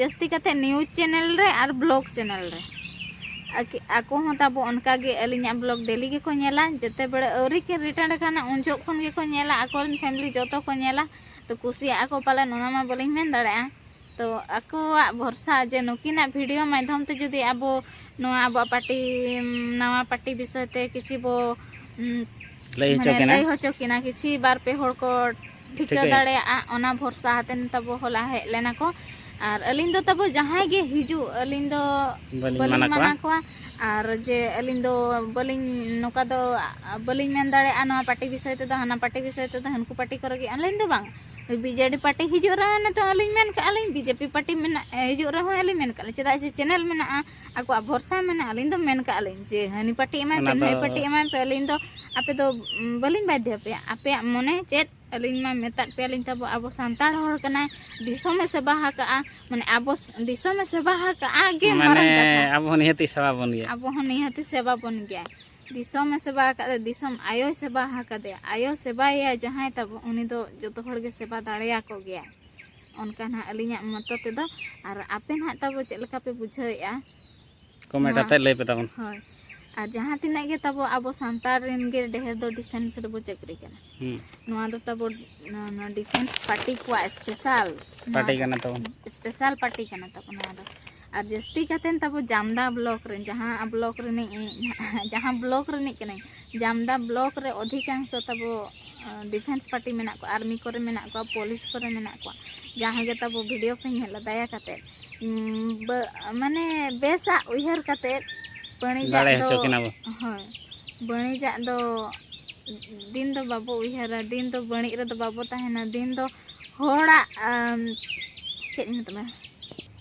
ᱡᱟᱹᱥᱛᱤ ᱠᱟᱛᱮ ᱱᱤᱭᱩᱡᱽ ᱪᱮᱱᱮᱞ ᱨᱮ ᱟᱨ ᱵᱞᱚᱜ ᱪᱮᱱᱮᱞ ᱨᱮ ᱟᱠᱚ ᱦᱚᱸ ᱛᱟᱵᱚ ᱚᱱᱠᱟ ᱜᱮ ᱟᱹᱞᱤᱧᱟᱜ ᱵᱞᱚᱜ ᱰᱮᱞᱤ ᱜᱮᱠᱚ ᱧᱮᱞᱟ ᱡᱮᱛᱮ ᱵᱮᱲᱟ ᱟᱹᱣᱨᱤ ᱠᱤᱱ ᱨᱤᱴᱟᱨᱱ ᱟᱠᱟᱱᱟ ᱩᱱ ᱡᱚᱠᱷᱚᱱ ᱠᱷᱚᱱ ᱜᱮᱠᱚ ᱧᱮᱞᱟ ᱟᱠᱚᱨᱮᱱ ᱯᱷᱮᱢᱞᱤ ᱡᱚᱛᱚ ᱠᱚ ᱧᱮᱞᱟ ᱛᱚ ᱠᱩᱥᱤᱭᱟᱜ ᱟᱠᱚ ᱯᱟᱞᱮᱱ ᱚᱱᱟ ᱢᱟ ᱵᱟᱹᱞᱤᱧ ᱢᱮᱱ ᱫᱟᱲᱮᱭᱟᱜᱼᱟ ᱛᱚ ᱟᱠᱚᱣᱟᱜ ᱵᱷᱚᱨᱥᱟ ᱡᱮ ᱱᱩᱠᱤᱱᱟᱜ ᱵᱷᱤᱰᱤᱭᱳ ᱢᱟᱫᱽᱫᱷᱚᱢ ᱛᱮ ᱡᱩᱫᱤ ᱟᱵᱚ ᱱᱚᱣᱟ ᱟᱵᱚᱣᱟᱜ ᱯᱟᱴᱤ ᱱᱟᱣᱟ ᱯᱟᱴᱤ ᱵᱤᱥᱚᱭ ᱛᱮ ᱠᱤᱪᱷᱤ ᱵᱚ ᱞᱟᱹᱭ ᱦᱚᱪᱚ ᱠᱤᱱᱟ ᱞᱟᱹᱭ ᱦᱚᱪᱚ ᱠᱤᱱᱟ ᱠᱤᱪᱷᱤ ᱵᱟᱨ ᱯᱮ ᱦᱚᱲ ᱠᱚ ᱴᱷᱤᱠᱟᱹ ᱫᱟᱲᱮᱭᱟᱜᱼᱟ ᱚᱱᱟ ᱵᱷᱚᱨᱥᱟ ᱦᱟᱛᱮᱱ ᱛᱟᱵᱚ ᱦᱚᱞᱟ ᱦᱮᱡ ᱞᱮᱱᱟ ᱠᱚ ᱟᱨ ᱟᱹᱞᱤᱧ ᱫᱚ ᱛᱟᱵᱚ ᱡᱟᱦᱟᱸᱭ ᱜᱮ ᱦᱤᱡᱩᱜ ᱟᱹᱞᱤᱧ ᱫᱚ ᱵᱟᱹᱞᱤᱧ ᱢᱟᱱᱟ ᱠᱚᱣᱟ ᱟᱨ ᱡᱮ ᱟᱹᱞᱤᱧ ᱫᱚ ᱵᱟᱹᱞᱤᱧ ᱱᱚᱝᱠᱟ ᱫᱚ ᱵᱟᱹᱞᱤᱧ ᱢᱮᱱ ᱫᱟᱲᱮᱭᱟᱜᱼᱟ ᱱᱚᱣᱟ ᱯᱟᱨᱴᱤ ᱵᱤᱥᱚᱭ ᱛᱮᱫᱚ ᱦᱟᱱᱟ ᱯᱟᱨᱴᱤ ᱵᱤᱥᱚᱭ ᱛᱮᱫᱚ ᱦᱟᱹᱱᱠᱩ ᱯᱟᱨᱴᱤ ᱠᱚᱨᱮ ᱜᱮ ᱟᱹᱞᱤᱧ ᱫᱚ ᱵᱟᱝ ᱵᱤᱡᱮᱰᱤ ᱯᱟᱨᱴᱤ ᱦᱤᱡᱩᱜ ᱨᱮᱦᱚᱸ ᱱᱤᱛᱚᱜ ᱟᱹᱞᱤᱧ ᱢᱮᱱ ᱠᱟᱜᱼᱟ ᱞᱤᱧ ᱵᱤᱡᱮᱯᱤ ᱯᱟᱨᱴᱤ ᱢᱮᱱᱟᱜ ᱦᱤᱡᱩᱜ ᱨᱮᱦᱚᱸ ᱟᱹᱞᱤᱧ ᱢᱮᱱ ᱠᱟᱜᱼᱟ ᱞᱤᱧ ᱪᱮᱫᱟᱜ ᱡᱮ ᱪᱮᱱᱮᱞ ᱢᱮᱱᱟᱜᱼᱟ ᱟᱠᱚᱣᱟᱜ ᱵᱷᱚᱨᱥᱟ ᱢᱟᱱᱮ ᱟᱹᱞᱤᱧ ᱫᱚ ᱢᱮᱱ ᱠᱟᱜᱼᱟ ᱞᱤᱧ ᱡᱮ ᱦᱟᱹᱱᱤ ᱯᱟᱹᱴᱤ ᱮᱢᱟᱭ ᱯᱮ ᱱᱟᱹᱭ ᱯᱟᱹᱴᱤ ᱮᱢᱟᱭ ᱯᱮ ᱟᱹᱞᱤᱧ ᱫᱚ ᱟᱯᱮ ᱫᱚ ᱵᱟᱹᱞᱤᱧ ᱵᱟᱫᱽᱫᱷᱚ ᱟᱯᱮᱭᱟ ᱟᱯᱮᱭᱟᱜ ᱢᱚᱱᱮ ᱪᱮᱫ ᱟᱹᱞᱤᱧ ᱢᱟ ᱢᱮᱛᱟᱫ ᱯᱮᱭᱟᱞᱤᱧ ᱛᱟᱵᱚ ᱟᱵᱚ ᱥᱟᱱᱛᱟᱲ ᱦᱚᱲ ᱠᱟᱱᱟᱭ ᱫᱤᱥᱚᱢᱮ ᱥᱮᱵᱟ ᱟᱠᱟᱜᱼᱟ ᱢᱟᱱᱮ ᱟᱵᱚ ᱫᱤᱥᱚᱢᱮ ᱥᱮᱵᱟ ᱟᱠᱟᱜᱼᱟ ᱜᱮ ᱢᱟᱨᱟᱝ ᱠᱟᱛᱷᱟ ᱟᱵᱚ ᱦᱚᱸ ᱱᱤᱦᱟᱹᱛᱤ ᱥᱮᱵᱟ ᱵᱚᱱ ᱜᱮᱭᱟ ᱟᱵᱚ ᱦᱚᱸ ᱱᱤᱦᱟᱹᱛᱤ ᱥᱮᱵᱟ ᱵᱚᱱ ᱜᱮᱭᱟ ᱫᱤᱥᱚᱢᱮ ᱥᱮᱵᱟ ᱟᱠᱟᱫᱟ ᱫᱤᱥᱚᱢ ᱟᱭᱳᱭ ᱥᱮᱵᱟ ᱟᱠᱟᱫᱮᱭᱟ ᱟᱭᱳ ᱥᱮᱵᱟᱭᱮᱭᱟ ᱡᱟᱦᱟᱸᱭ ᱛᱟᱵᱚ ᱩᱱᱤ ᱫᱚ ᱡᱚᱛᱚ ᱦᱚᱲ ᱜᱮ ᱥᱮᱵᱟ ᱫᱟᱲᱮᱭᱟᱠᱚ ᱜᱮᱭᱟ ᱚᱱᱠᱟ ᱱᱟᱦᱟᱜ ᱟᱹᱞᱤᱧᱟᱜ ᱢᱚᱛᱚ ᱛᱮᱫᱚ ᱟᱨ ᱟᱯᱮ ᱱᱟᱦᱟᱜ ᱛᱟᱵᱚ ᱪᱮᱫ ᱞᱮᱠᱟ ᱯᱮ ᱵᱩᱡᱷᱟᱹᱣᱮᱫᱼᱟ ᱠᱚᱢᱮᱱᱴ ᱟᱛᱮ ᱞᱟᱹᱭ ᱯᱮ ᱛᱟᱵᱚᱱ ᱦᱳᱭ ᱟᱨ ᱡᱟᱦᱟᱸ ᱛᱤᱱᱟᱹᱜ ᱜᱮ ᱛᱟᱵᱚ ᱟᱵᱚ ᱥᱟᱱᱛᱟᱲ ᱨᱮᱱ ᱜᱮ ᱰᱷᱮᱨ ᱫᱚ ᱰᱤᱯᱷᱮᱱᱥ ᱨᱮᱵᱚ ᱪᱟᱹᱠᱨᱤ ᱠᱟᱱᱟ ᱱᱚᱣᱟ ᱫᱚ ᱛᱟᱵᱚ ᱱᱚᱣᱟ ᱰᱤᱯᱷᱮᱱᱥ ᱯᱟᱨᱴᱤ ᱠᱚᱣᱟᱜ ᱥᱯᱮᱥᱟᱞ ᱯᱟᱨᱴᱤ ᱠᱟᱱᱟ ᱛᱟᱵᱚᱱ ᱥᱯᱮᱥᱟᱞ ᱯᱟᱨᱴᱤ ᱠᱟᱱᱟ ᱛᱟᱵᱚ ᱱᱚᱣᱟ ᱫᱚ ᱟᱨ ᱡᱟᱹᱥᱛᱤ ᱠᱟᱛᱮᱱ ᱛᱟᱵᱚ ᱡᱟᱢᱫᱟ ᱵᱞᱚᱠ ᱨᱮᱱ ᱡᱟᱦᱟᱸ ᱵᱞᱚᱠ ᱨᱤᱱᱤᱡ ᱡᱟᱦᱟᱸ ᱵᱞᱚᱠ ᱨᱤᱱᱤᱡ ᱠᱟᱹᱱᱟᱹᱧ ᱡᱟᱢᱫᱟ ᱵᱞᱚᱠ ᱨᱮ ᱚᱫᱷᱤᱠᱟᱝᱥᱚ ᱛᱟᱵᱚ ᱰᱤᱯᱷᱮᱱᱥ ᱯᱟᱴᱤ ᱢᱮᱱᱟᱜ ᱠᱚᱣᱟ ᱟᱨᱢᱤ ᱠᱚᱨᱮ ᱢᱮᱱᱟᱜ ᱠᱚᱣᱟ ᱯᱚᱞᱤᱥ ᱠᱚᱨᱮ ᱢᱮᱱᱟᱜ ᱠᱚᱣᱟ ᱡᱟᱦᱟᱸᱭ ᱜᱮ ᱛᱟᱵᱚ ᱵᱷᱤᱰᱤᱭᱳ ᱯᱮ ᱧᱮᱞᱟ ᱫᱟᱭᱟ ᱠᱟᱛᱮ ᱢᱟᱱᱮ ᱵᱮᱥᱟᱜ ᱩᱭᱦᱟᱹᱨ ᱠᱟᱛᱮ ᱵᱟᱹᱱᱤᱡᱟᱜ ᱫᱚ ᱦᱳᱭ ᱵᱟᱹᱱᱤᱡᱟᱜ ᱫᱚ ᱫᱤᱱ ᱫᱚ ᱵᱟᱵᱚ ᱩᱭᱦᱟᱹᱨᱟ ᱫᱤᱱ ᱫᱚ ᱵᱟᱹᱱᱤᱡ ᱨᱮᱫᱚ ᱵᱟᱵᱚ ᱛᱟᱦᱮᱱᱟ ᱫᱤᱱ ᱫᱚ ᱦᱚᱲᱟᱜ ᱪᱮᱫ ᱤᱧ ᱢᱮᱛᱟᱢᱟ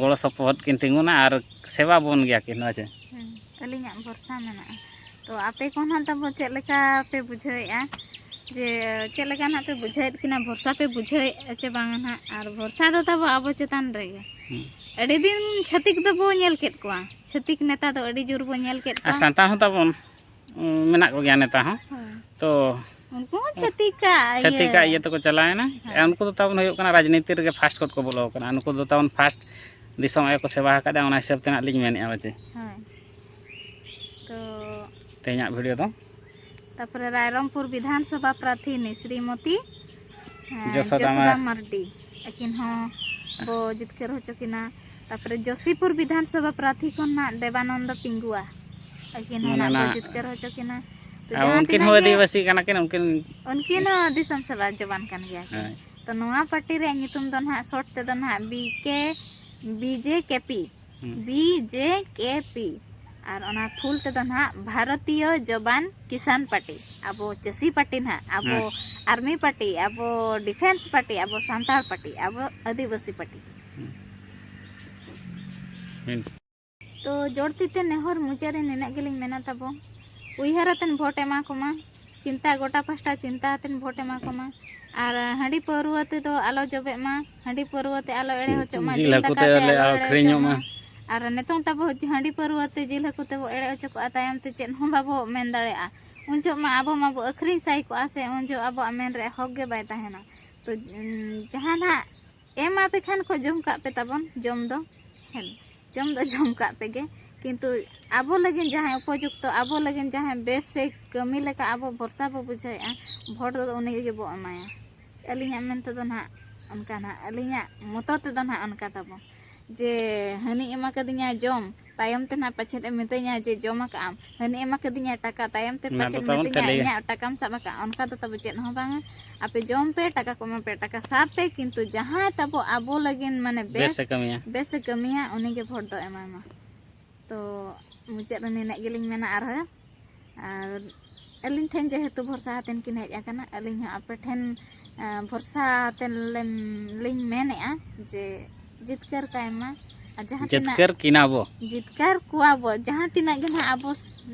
ᱜᱚᱲᱚ ᱥᱚᱯᱚᱦᱚᱫ ᱠᱤᱱ ᱛᱤᱸᱜᱩᱱᱟ ᱟᱨ ᱥᱮᱵᱟ ᱵᱚᱱ ᱜᱮᱭᱟ ᱠᱤᱱ ᱦᱮᱸ ᱪᱮ ᱟᱹᱞᱤᱧᱟᱜ ᱵᱷᱚᱨᱥᱟ ᱢᱮᱱᱟᱜᱼᱟ ᱛᱚ ᱟᱯᱮ ᱠᱚ ᱱᱟᱦᱟᱜ ᱛᱟᱵᱚ ᱪᱮᱫ ᱞᱮᱠᱟ ᱯᱮ ᱵᱩᱡᱷᱟᱹᱣᱮᱫᱼᱟ ᱡᱮ ᱪᱮᱫ ᱞᱮᱠᱟ ᱱᱟᱦᱟᱜ ᱯᱮ ᱵᱩᱡᱷᱟᱹᱣᱮᱫ ᱠᱤᱱᱟ ᱵᱷᱚᱨᱥᱟ ᱯᱮ ᱵᱩᱡᱷᱟᱹᱣᱮᱫᱼᱟ ᱪᱮ ᱵᱟᱝᱟ ᱱᱟᱦᱟᱜ ᱟᱨ ᱵᱷᱚᱨᱥᱟ ᱫᱚ ᱛᱟᱵᱚ ᱟᱵᱚ ᱪᱮᱛᱟᱱ ᱨᱮᱜᱮ ᱟᱹᱰᱤ ᱫᱤᱱ ᱪᱷᱟᱹᱛᱤᱠ ᱫᱚᱵᱚ ᱧᱮᱞ ᱠᱮᱫ ᱠᱚᱣᱟ ᱪᱷᱟᱹᱛᱤᱠ ᱱᱮᱛᱟ ᱫᱚ ᱟᱹᱰᱤ ᱡᱳᱨ ᱵᱚ ᱧᱮᱞ ᱠᱮᱫ ᱠᱚᱣᱟ ᱥᱟᱱᱛᱟᱲ ᱦᱚᱸ ᱛᱟᱵᱚᱱ ᱢᱮᱱᱟᱜ ᱠᱚᱜᱮᱭᱟ ᱱᱮᱛᱟᱨ ᱦᱚᱸ ᱛᱚ ᱩᱱᱠᱩ ᱦᱚᱸ ᱪᱷᱟᱹᱛᱤᱠᱟᱜ ᱪᱷᱟᱹᱛᱤᱠᱟᱜ ᱤᱭᱟᱹ ᱛᱮᱠᱚ ᱪᱟᱞᱟᱣᱮᱱᱟ ᱩᱱᱠᱩ ᱫᱚ ᱛᱟᱵᱚᱱ ᱦᱩᱭᱩᱜ ᱠᱟᱱᱟ ᱨᱟᱡᱽᱱᱤᱛᱤ ᱨᱮᱜᱮ ᱯᱷᱟᱥᱴ ᱠᱷᱚᱱ ᱠᱚ ᱵᱚᱞᱚ ᱟᱠᱟᱱᱟ ᱱᱩᱠᱩ ᱫᱚ ᱛᱟᱵᱚᱱ ᱯᱷᱟᱥᱴ ᱫᱤᱥᱚᱢ ᱟᱭᱳ ᱠᱚ ᱥᱮᱵᱟ ᱟᱠᱟᱫᱟ ᱚᱱᱟ ᱦᱤᱥᱟᱹᱵ ᱛᱮ ᱦᱟᱸᱜ ᱞᱤᱧ ᱢᱮᱱᱮᱫᱼᱟ ᱵᱟᱪᱮ ᱛᱚ ᱛᱮᱦᱮᱧᱟᱜ ᱵᱷᱤᱰᱤᱭᱳ ᱫᱚ ᱛᱟᱯᱚᱨᱮ ᱨᱟᱭᱨᱚᱝᱯᱩᱨ ᱵᱤᱫᱷᱟᱱᱥᱚᱵᱷᱟ ᱯᱨᱟᱨᱛᱷᱤᱱᱤ ᱥᱨᱤᱢᱚᱛᱤ ᱡᱚᱥᱚᱫᱟ ᱢᱟᱨᱰᱤ ᱟᱹᱠᱤᱱ ᱦᱚᱸ ᱵᱚ ᱡᱤᱛᱠᱟᱹᱨ ᱦᱚᱪᱚ ᱠᱤᱱᱟ ᱛᱟᱯᱚᱨᱮ ᱡᱚᱥᱤᱯᱩᱨ ᱵᱤᱫᱷᱟᱱ ᱥᱚᱵᱷᱟ ᱯᱨᱟᱨᱛᱷᱤ ᱠᱷᱚᱱ ᱱᱟᱜ ᱫᱮᱵᱟᱱᱚᱱᱫᱚ ᱯᱤᱝᱜᱩᱣᱟ ᱟᱹᱠᱤᱱ ᱦᱚᱸ ᱱᱟᱜ ᱵᱚ ᱡᱤᱛᱠᱟᱹᱨ ᱦᱚᱪᱚ ᱠᱤᱱᱟ ᱩᱱᱠᱤᱱ ᱦᱚᱸ ᱟᱹᱫᱤᱵᱟᱹᱥᱤ ᱠᱟᱱᱟ ᱠᱤᱱ ᱩᱱᱠᱤᱱ ᱩᱱᱠᱤᱱ ᱦᱚᱸ ᱫᱤᱥᱚᱢ ᱥᱮᱵᱟ ᱡᱚᱵᱟᱱ ᱠᱟᱱ ᱜᱮᱭᱟ ᱠᱤᱱ ᱛᱚ ᱱᱚᱣᱟ ᱯᱟᱨᱴᱤ ᱨᱮᱭᱟᱜ ᱧᱩᱛᱩᱢ ᱫᱚ ᱱᱟᱜ ᱥᱚᱨᱴ ᱛᱮᱫᱚ ᱱᱟᱜ ᱵᱤ ᱠᱮ ᱵᱤᱡᱮ ᱠᱮᱯᱤ ᱵᱤ ᱡᱮ ᱠᱮ ᱯᱤ ᱟᱨ ᱚᱱᱟ ᱯᱷᱩᱞ ᱛᱮᱫᱚ ᱱᱟᱦᱟᱜ ᱵᱷᱟᱨᱚᱛᱤᱭᱚ ᱡᱚᱵᱟᱱ ᱠᱤᱥᱟᱱ ᱯᱟᱨᱴᱤ ᱟᱵᱚ ᱪᱟᱹᱥᱤ ᱯᱟᱨᱴᱤ ᱱᱟᱦᱟᱜ ᱟᱵᱚ ᱟᱨᱢᱤ ᱯᱟᱨᱴᱤ ᱟᱵᱚ ᱰᱤᱯᱷᱮᱱᱥ ᱯᱟᱨᱴᱤ ᱟᱵᱚ ᱥᱟᱱᱛᱟᱲ ᱯᱟᱨᱴᱤ ᱟᱵᱚ ᱟᱹᱫᱤᱵᱟᱹᱥᱤ ᱯᱟᱨᱴᱤ ᱛᱚ ᱡᱳᱲ ᱛᱤᱛᱮ ᱱᱮᱦᱚᱨ ᱢᱩᱪᱟᱹᱫ ᱨᱮ ᱱᱤᱱᱟᱹᱜ ᱜᱮᱞᱤᱧ ᱢᱮᱱᱟ ᱛᱟᱵᱚ ᱩᱭᱦᱟᱹᱨ ᱟᱛᱮᱱ ᱵᱷᱳᱴ ᱮᱢᱟ ᱠᱚᱢᱟ ᱪᱤᱱᱛᱟ ᱜᱚᱴᱟ ᱯᱟᱥᱴᱟ ᱪᱤᱱᱛᱟ ᱟᱛᱮᱱ ᱵᱷᱳᱴ ᱮᱢᱟ ᱠᱚᱢᱟ ᱟᱨ ᱦᱟᱺᱰᱤ ᱯᱟᱹᱣᱨᱟᱹ ᱛᱮᱫᱚ ᱟᱞᱚ ᱡᱚᱵᱮᱜ ᱢᱟ ᱦᱟᱺᱰᱤ ᱯᱟᱹᱨᱣᱟᱹ ᱛᱮ ᱟᱞᱚ ᱮᱲᱮ ᱦᱚᱪᱚᱜ ᱢᱟ ᱡᱤᱞ ᱦᱟᱹᱠᱩ ᱛᱮ ᱟᱞᱮ ᱟᱹᱠᱷᱨᱤᱧᱚᱜ ᱢᱟ ᱟᱨ ᱱᱤᱛᱚᱝ ᱛᱟᱵᱚ ᱦᱟᱺᱰᱤ ᱯᱟᱹᱨᱣᱟᱹ ᱛᱮ ᱡᱤᱞ ᱦᱟᱹᱠᱩ ᱛᱮᱵᱚ ᱮᱲᱮ ᱦᱚᱪᱚ ᱠᱚᱜᱼᱟ ᱛᱟᱭᱚᱢ ᱛᱮ ᱪᱮᱫ ᱦᱚᱸ ᱵᱟᱵᱚ ᱢᱮᱱ ᱫᱟᱲᱮᱭᱟᱜᱼᱟ ᱩᱱ ᱡᱚᱦᱚᱜ ᱢᱟ ᱟᱵᱚ ᱢᱟᱵᱚ ᱟᱹᱠᱷᱨᱤᱧ ᱥᱟᱭ ᱠᱚᱜᱼᱟ ᱥᱮ ᱩᱱ ᱡᱚᱦᱚᱜ ᱟᱵᱚᱣᱟᱜ ᱢᱮᱱ ᱨᱮ ᱦᱚᱠ ᱜᱮ ᱵᱟᱭ ᱛᱟᱦᱮᱱᱟ ᱛᱚ ᱡᱟᱦᱟᱸ ᱱᱟᱜ ᱮᱢ ᱟᱯᱮ ᱠᱷᱟᱱ ᱠᱚ ᱡᱚᱢ ᱠᱟᱜ ᱯᱮ ᱛᱟᱵᱚᱱ ᱡᱚᱢ ᱫᱚ ᱦᱮᱸ ᱡᱚᱢ ᱫᱚ ᱡᱚᱢ ᱠᱟᱜ ᱯᱮ ᱜᱮ ᱠᱤᱱᱛᱩ ᱟᱵᱚ ᱞᱟᱹᱜᱤᱫ ᱡᱟᱦᱟᱸᱭ ᱩᱯᱚᱡᱩᱠᱛᱚ ᱟᱵᱚ ᱞᱟᱹᱜᱤᱫ ᱡᱟᱦᱟᱸᱭ ᱵᱮᱥ ᱥᱮ ᱠᱟᱹᱢᱤ ᱞᱮᱠᱟ ᱟᱵᱚ ᱵᱷᱚᱨᱥᱟ ᱵᱚ ᱵᱩᱡᱷᱟᱹᱣᱮᱜᱼᱟ ᱵᱷᱳᱴ ᱫᱚ ᱩᱱᱤ ᱜᱮᱵᱚ ᱮᱢᱟᱭᱟ ᱟᱹᱞᱤᱧᱟᱜ ᱢᱮᱱ ᱛᱮᱫᱚ ᱱᱟᱦᱟᱜ ᱚᱱᱠᱟ ᱱᱟᱦᱟᱜ ᱟᱹᱞᱤᱧᱟᱜ ᱢᱚᱛᱚ ᱛᱮᱫᱚ ᱱᱟᱦᱟᱜ ᱚᱱᱠᱟ ᱛᱟᱵᱚᱱ ᱡᱮ ᱦᱟᱹᱱᱤᱭ ᱮᱢᱟ ᱠᱟᱫᱤᱧᱟ ᱡᱚᱢ ᱛᱟᱭᱚᱢ ᱛᱮ ᱱᱟᱦᱟᱜ ᱯᱟᱪᱷᱮᱫ ᱮ ᱢᱤᱛᱟᱹᱧᱟ ᱡᱮ ᱡᱚᱢ ᱟᱠᱟᱫ ᱟᱢ ᱦᱟᱹᱱᱤᱭ ᱮᱢᱟ ᱠᱟᱫᱤᱧᱟ ᱴᱟᱠᱟ ᱛᱟᱭᱚᱢ ᱛᱮ ᱯᱟᱪᱷᱮᱫ ᱢᱤᱛᱟᱹᱧᱟ ᱤᱧᱟᱹᱜ ᱴᱟᱠᱟᱢ ᱥᱟᱵ ᱟᱠᱟᱫ ᱚᱱᱠᱟ ᱫᱚ ᱛᱟᱵᱚ ᱪᱮᱫ ᱦᱚᱸ ᱵᱟᱝᱟ ᱟᱯᱮ ᱡᱚᱢ ᱯᱮ ᱴᱟᱠᱟ ᱠᱚ ᱮᱢᱟ ᱯᱮ ᱴᱟᱠᱟ ᱥᱟᱵ ᱯᱮ ᱠᱤᱱᱛᱩ ᱡᱟᱦᱟᱸᱭ ᱛᱟᱵᱚ ᱟᱵᱚ ᱞᱟᱹᱜᱤᱫ ᱢᱟᱱᱮ ᱵᱮᱥ ᱵᱮᱥᱮ ᱠᱟᱹᱢᱤᱭᱟ ᱩᱱᱤᱜᱮ ᱵᱷᱳᱴ ᱫᱚ ᱮᱢᱟᱭ ᱢᱟ ᱛᱚ ᱢᱩᱪᱟᱹᱫ ᱨᱮ ᱱᱤᱱᱟᱹᱜ ᱜᱮᱞᱤᱧ ᱢᱮᱱᱟ ᱟᱨᱦᱚᱸ ᱟᱨ ᱟᱹᱞᱤᱧ ᱴᱷᱮᱱ ᱡᱮᱦᱮᱛᱩ ᱵᱷᱚᱨᱥᱟ ᱟᱛᱮᱱ ᱠᱤᱱ ᱦᱮᱡ ᱟᱠᱟᱱᱟ ᱟᱹᱞᱤᱧ ᱦᱚᱸ ᱟᱯᱮ ᱴᱷᱮᱱ ᱵᱷᱚᱨᱥᱟ ᱟᱛᱮᱱ ᱞᱤᱧ ᱢᱮᱱᱮᱜᱼᱟ ᱡᱮ ᱡᱤᱛᱠᱟᱹᱨ ᱠᱟᱭ ᱢᱟ ᱟᱨ ᱡᱟᱦᱟᱸ ᱡᱤᱛᱠᱟᱹᱨ ᱠᱤᱱᱟ ᱵᱚ ᱡᱤᱛᱠᱟᱹᱨ ᱠᱚᱣᱟ ᱵᱚ ᱡᱟᱦᱟᱸ ᱛᱤᱱᱟᱹᱜ ᱜᱮ ᱱᱟᱦᱟᱜ ᱟᱵᱚ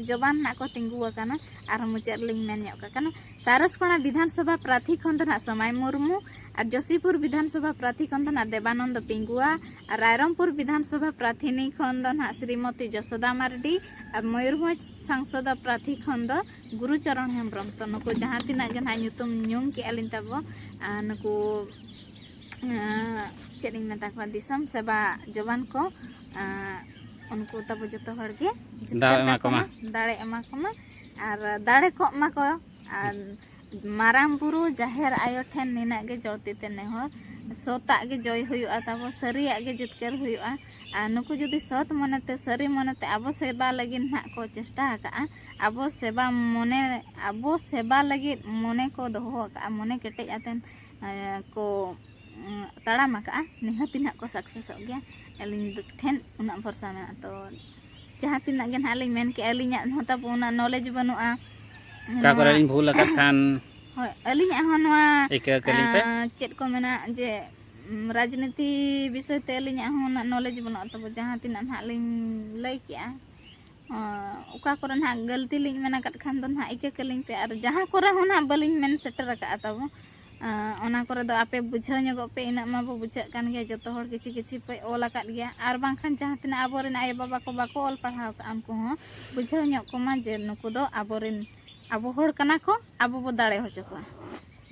ᱡᱚᱵᱟᱱ ᱱᱟᱦᱟᱜ ᱠᱚ ᱛᱤᱸᱜᱩ ᱟᱠᱟᱱᱟ ᱟᱨᱦᱚᱸ ᱢᱩᱪᱟᱹᱫ ᱨᱮᱞᱤᱧ ᱢᱮᱱ ᱧᱚᱜ ᱠᱟᱜ ᱠᱟᱱᱟ ᱥᱟᱨᱚᱥᱠᱚᱬᱟ ᱵᱤᱫᱷᱟᱱᱥᱚᱵᱷᱟ ᱯᱨᱟᱛᱷᱤ ᱠᱷᱚᱱ ᱫᱚ ᱱᱟᱦᱟᱜ ᱥᱚᱢᱟᱭ ᱢᱩᱨᱢᱩ ᱟᱨ ᱡᱚᱥᱤᱯᱩᱨ ᱵᱤᱫᱷᱟᱱᱥᱚᱵᱷᱟ ᱯᱨᱟᱛᱷᱤ ᱠᱷᱚᱱ ᱫᱚ ᱱᱟᱦᱟᱜ ᱫᱮᱵᱟᱱᱚᱱᱫᱚ ᱯᱤᱝᱜᱩᱣᱟ ᱟᱨ ᱨᱟᱭᱨᱚᱝᱯᱩᱨ ᱵᱤᱫᱷᱟᱱᱥᱚᱵᱷᱟ ᱯᱨᱟᱛᱷᱤᱱᱤ ᱠᱷᱚᱱ ᱫᱚ ᱱᱟᱦᱟᱜ ᱥᱨᱤᱢᱚᱛᱤ ᱡᱚᱥᱚᱫᱟ ᱢᱟᱨᱰᱤ ᱟᱨ ᱢᱚᱭᱩᱨᱵᱷᱚᱸᱡᱽ ᱥᱟᱝᱥᱚᱫᱟ ᱯᱨᱟᱛᱷᱤ ᱠᱷᱚᱱ ᱫᱚ ᱜᱩᱨᱩ ᱪᱚᱨᱚᱱ ᱦᱮᱢᱵᱨᱚᱢ ᱛᱚ ᱱᱩᱠᱩ ᱡᱟᱦᱟᱸ ᱛᱤᱱᱟᱹᱜ ᱜᱮ ᱱᱟᱦᱟᱜ ᱧᱩᱛᱩᱢ ᱧᱩᱢ ᱠᱮᱜᱼᱟ ᱞᱤᱧ ᱛᱟᱵᱚ ᱱᱩᱠᱩ ᱪᱮᱫ ᱤᱧ ᱢᱮᱛᱟ ᱠᱚᱣᱟ ᱫᱤᱥᱚᱢ ᱥᱮᱵᱟ ᱡᱚᱵᱟᱱ ᱠᱚ ᱩᱱᱠᱩ ᱛᱟᱵᱚ ᱡᱚᱛᱚ ᱦᱚᱲ ᱜᱮ ᱫᱟᱲᱮ ᱮᱢᱟ ᱠᱚᱢᱟ ᱫᱟᱲᱮ ᱮᱢᱟ ᱠᱚᱢᱟ ᱟᱨ ᱫᱟᱲᱮ ᱠᱚᱜ ᱢᱟᱠᱚ ᱟᱨ ᱢᱟᱨᱟᱝ ᱵᱩᱨᱩ ᱡᱟᱦᱮᱨ ᱟᱭᱳ ᱴᱷᱮᱱ ᱱᱤᱱᱟᱹᱜ ᱜᱮ ᱡᱚᱲᱛᱤ ᱛᱮ ᱱᱮᱦᱚᱨ ᱥᱚᱛᱟᱜ ᱜᱮ ᱡᱚᱭ ᱦᱩᱭᱩᱜᱼᱟ ᱛᱟᱵᱚ ᱥᱟᱹᱨᱤᱭᱟᱜ ᱜᱮ ᱡᱤᱛᱠᱟᱹᱨ ᱦᱩᱭᱩᱜᱼᱟ ᱟᱨ ᱱᱩᱠᱩ ᱡᱩᱫᱤ ᱥᱚᱛ ᱢᱚᱱᱮᱛᱮ ᱥᱟᱹᱨᱤ ᱢᱚᱱᱮᱛᱮ ᱟᱵᱚ ᱥᱮᱵᱟ ᱞᱟᱹᱜᱤᱫ ᱱᱟᱦᱟᱜ ᱠᱚ ᱪᱮᱥᱴᱟ ᱟᱠᱟᱫᱼᱟ ᱟᱵᱚ ᱥᱮᱵᱟ ᱢᱚᱱᱮ ᱟᱵᱚ ᱥᱮᱵᱟ ᱞᱟᱹᱜᱤᱫ ᱢᱚᱱᱮ ᱠᱚ ᱫᱚᱦᱚ ᱟᱠᱟᱫᱼᱟ ᱢᱚᱱᱮ ᱠᱮᱴᱮᱡ ᱟᱛᱮᱱ ᱠᱚ ᱛᱟᱲᱟᱢ ᱟᱠᱟᱫᱼᱟ ᱱᱤᱦᱟᱹᱛ ᱜᱮ ᱱᱟᱦᱟᱜ ᱠᱚ ᱥᱟᱠᱥᱮᱥᱚᱜ ᱜᱮᱭᱟ ᱟᱹᱞᱤᱧ ᱴᱷᱮᱱ ᱩᱱᱟᱹᱜ ᱵᱷᱚᱨᱥᱟ ᱢᱮᱱᱟᱜᱼᱟ ᱛᱚ ᱡᱟᱦᱟᱸ ᱛᱤᱱᱟᱹᱜ ᱜᱮ ᱱᱟᱦᱟᱜ ᱞᱤᱧ ᱢᱮᱱ ᱠᱮᱜᱼᱟ ᱟᱹᱞᱤᱧᱟᱜ ᱦᱚᱸ ᱛᱟᱵᱚ ᱚᱱᱟ ᱱᱚᱞᱮᱡᱽ ᱵᱟᱹᱱᱩᱜᱼᱟ ᱚᱠᱟ ᱠᱚᱨᱮ ᱞᱤᱧ ᱵᱷᱩᱞ ᱟᱠᱟᱫ ᱠᱷᱟᱱ ᱦᱳᱭ ᱟᱹᱞᱤᱧᱟᱜ ᱦᱚᱸ ᱱᱚᱣᱟ ᱤᱠᱟᱹ ᱠᱟᱹᱞᱤᱧ ᱯᱮ ᱪᱮᱫ ᱠᱚ ᱢᱮᱱᱟ ᱡᱮ ᱨᱟᱡᱽᱱᱤᱛᱤ ᱵᱤᱥᱚᱭ ᱛᱮ ᱟᱹᱞᱤᱧᱟᱜ ᱦᱚᱸ ᱩᱱᱟᱹᱜ ᱱᱚᱞᱮᱡᱽ ᱵᱟᱹᱱᱩᱜᱼᱟ ᱛᱟᱵᱚ ᱡᱟᱦᱟᱸ ᱛᱤᱱᱟᱹᱜ ᱱᱟᱦᱟᱜ ᱞᱤᱧ ᱞᱟᱹᱭ ᱠᱮᱜᱼᱟ ᱚᱠᱟ ᱠᱚᱨᱮ ᱱᱟᱦᱟᱜ ᱜᱟᱹᱞᱛᱤ ᱞᱤᱧ ᱢᱮᱱ ᱟᱠᱟᱫ ᱠᱷᱟᱱ ᱫᱚ ᱱᱟᱦᱟᱜ ᱤᱠᱟᱹ ᱠᱟᱹᱞᱤᱧ ᱯᱮ ᱟᱨ ᱡᱟᱦᱟᱸ ᱠᱚᱨᱮ ᱦᱚᱸ ᱱᱟᱦᱟᱜ ᱵᱟᱹᱞᱤᱧ ᱢᱮᱱ ᱥᱮᱴᱮᱨ ᱟᱠᱟᱫᱼᱟ ᱛᱟᱵᱚ ᱚᱱᱟ ᱠᱚᱨᱮ ᱫᱚ ᱟᱯᱮ ᱵᱩᱡᱷᱟᱹᱣ ᱧᱚᱜᱚᱜ ᱯᱮ ᱤᱱᱟᱹᱜ ᱢᱟᱵᱚ ᱵᱩᱡᱷᱟᱹᱜ ᱠᱟᱱ ᱜᱮᱭᱟ ᱡᱚᱛᱚ ᱦᱚᱲ ᱠᱤᱪᱷᱩ ᱠᱤᱪᱷᱩ ᱯᱮ ᱚᱞ ᱟᱠᱟᱫ ᱜᱮᱭᱟ ᱟᱨ ᱵᱟᱝᱠᱷᱟᱱ ᱡᱟᱦᱟᱸ ᱛᱤᱱᱟᱹᱜ ᱟᱵᱚ ᱨᱮᱱ ᱟᱭᱳ ᱵᱟᱵᱟ ᱠᱚ ᱵᱟᱠᱚ ᱚᱞ ᱯᱟᱲᱦᱟᱣ ᱠᱟᱜᱼᱟ ᱩᱱᱠᱩ ᱦᱚᱸ ᱵᱩᱡᱷᱟᱹᱣ ᱧᱚᱜ ᱠᱚᱢᱟ ᱡᱮ ᱱᱩᱠᱩ ᱫᱚ ᱟᱵᱚ ᱨᱮᱱ ᱟᱵᱚ ᱦᱚᱲ ᱠᱟᱱᱟ ᱠᱚ ᱟᱵᱚ ᱵᱚ ᱫᱟᱲᱮ ᱦᱚᱪᱚ ᱠᱚᱣᱟ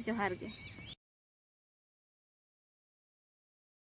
ᱡᱚᱦᱟᱨ ᱜᱮ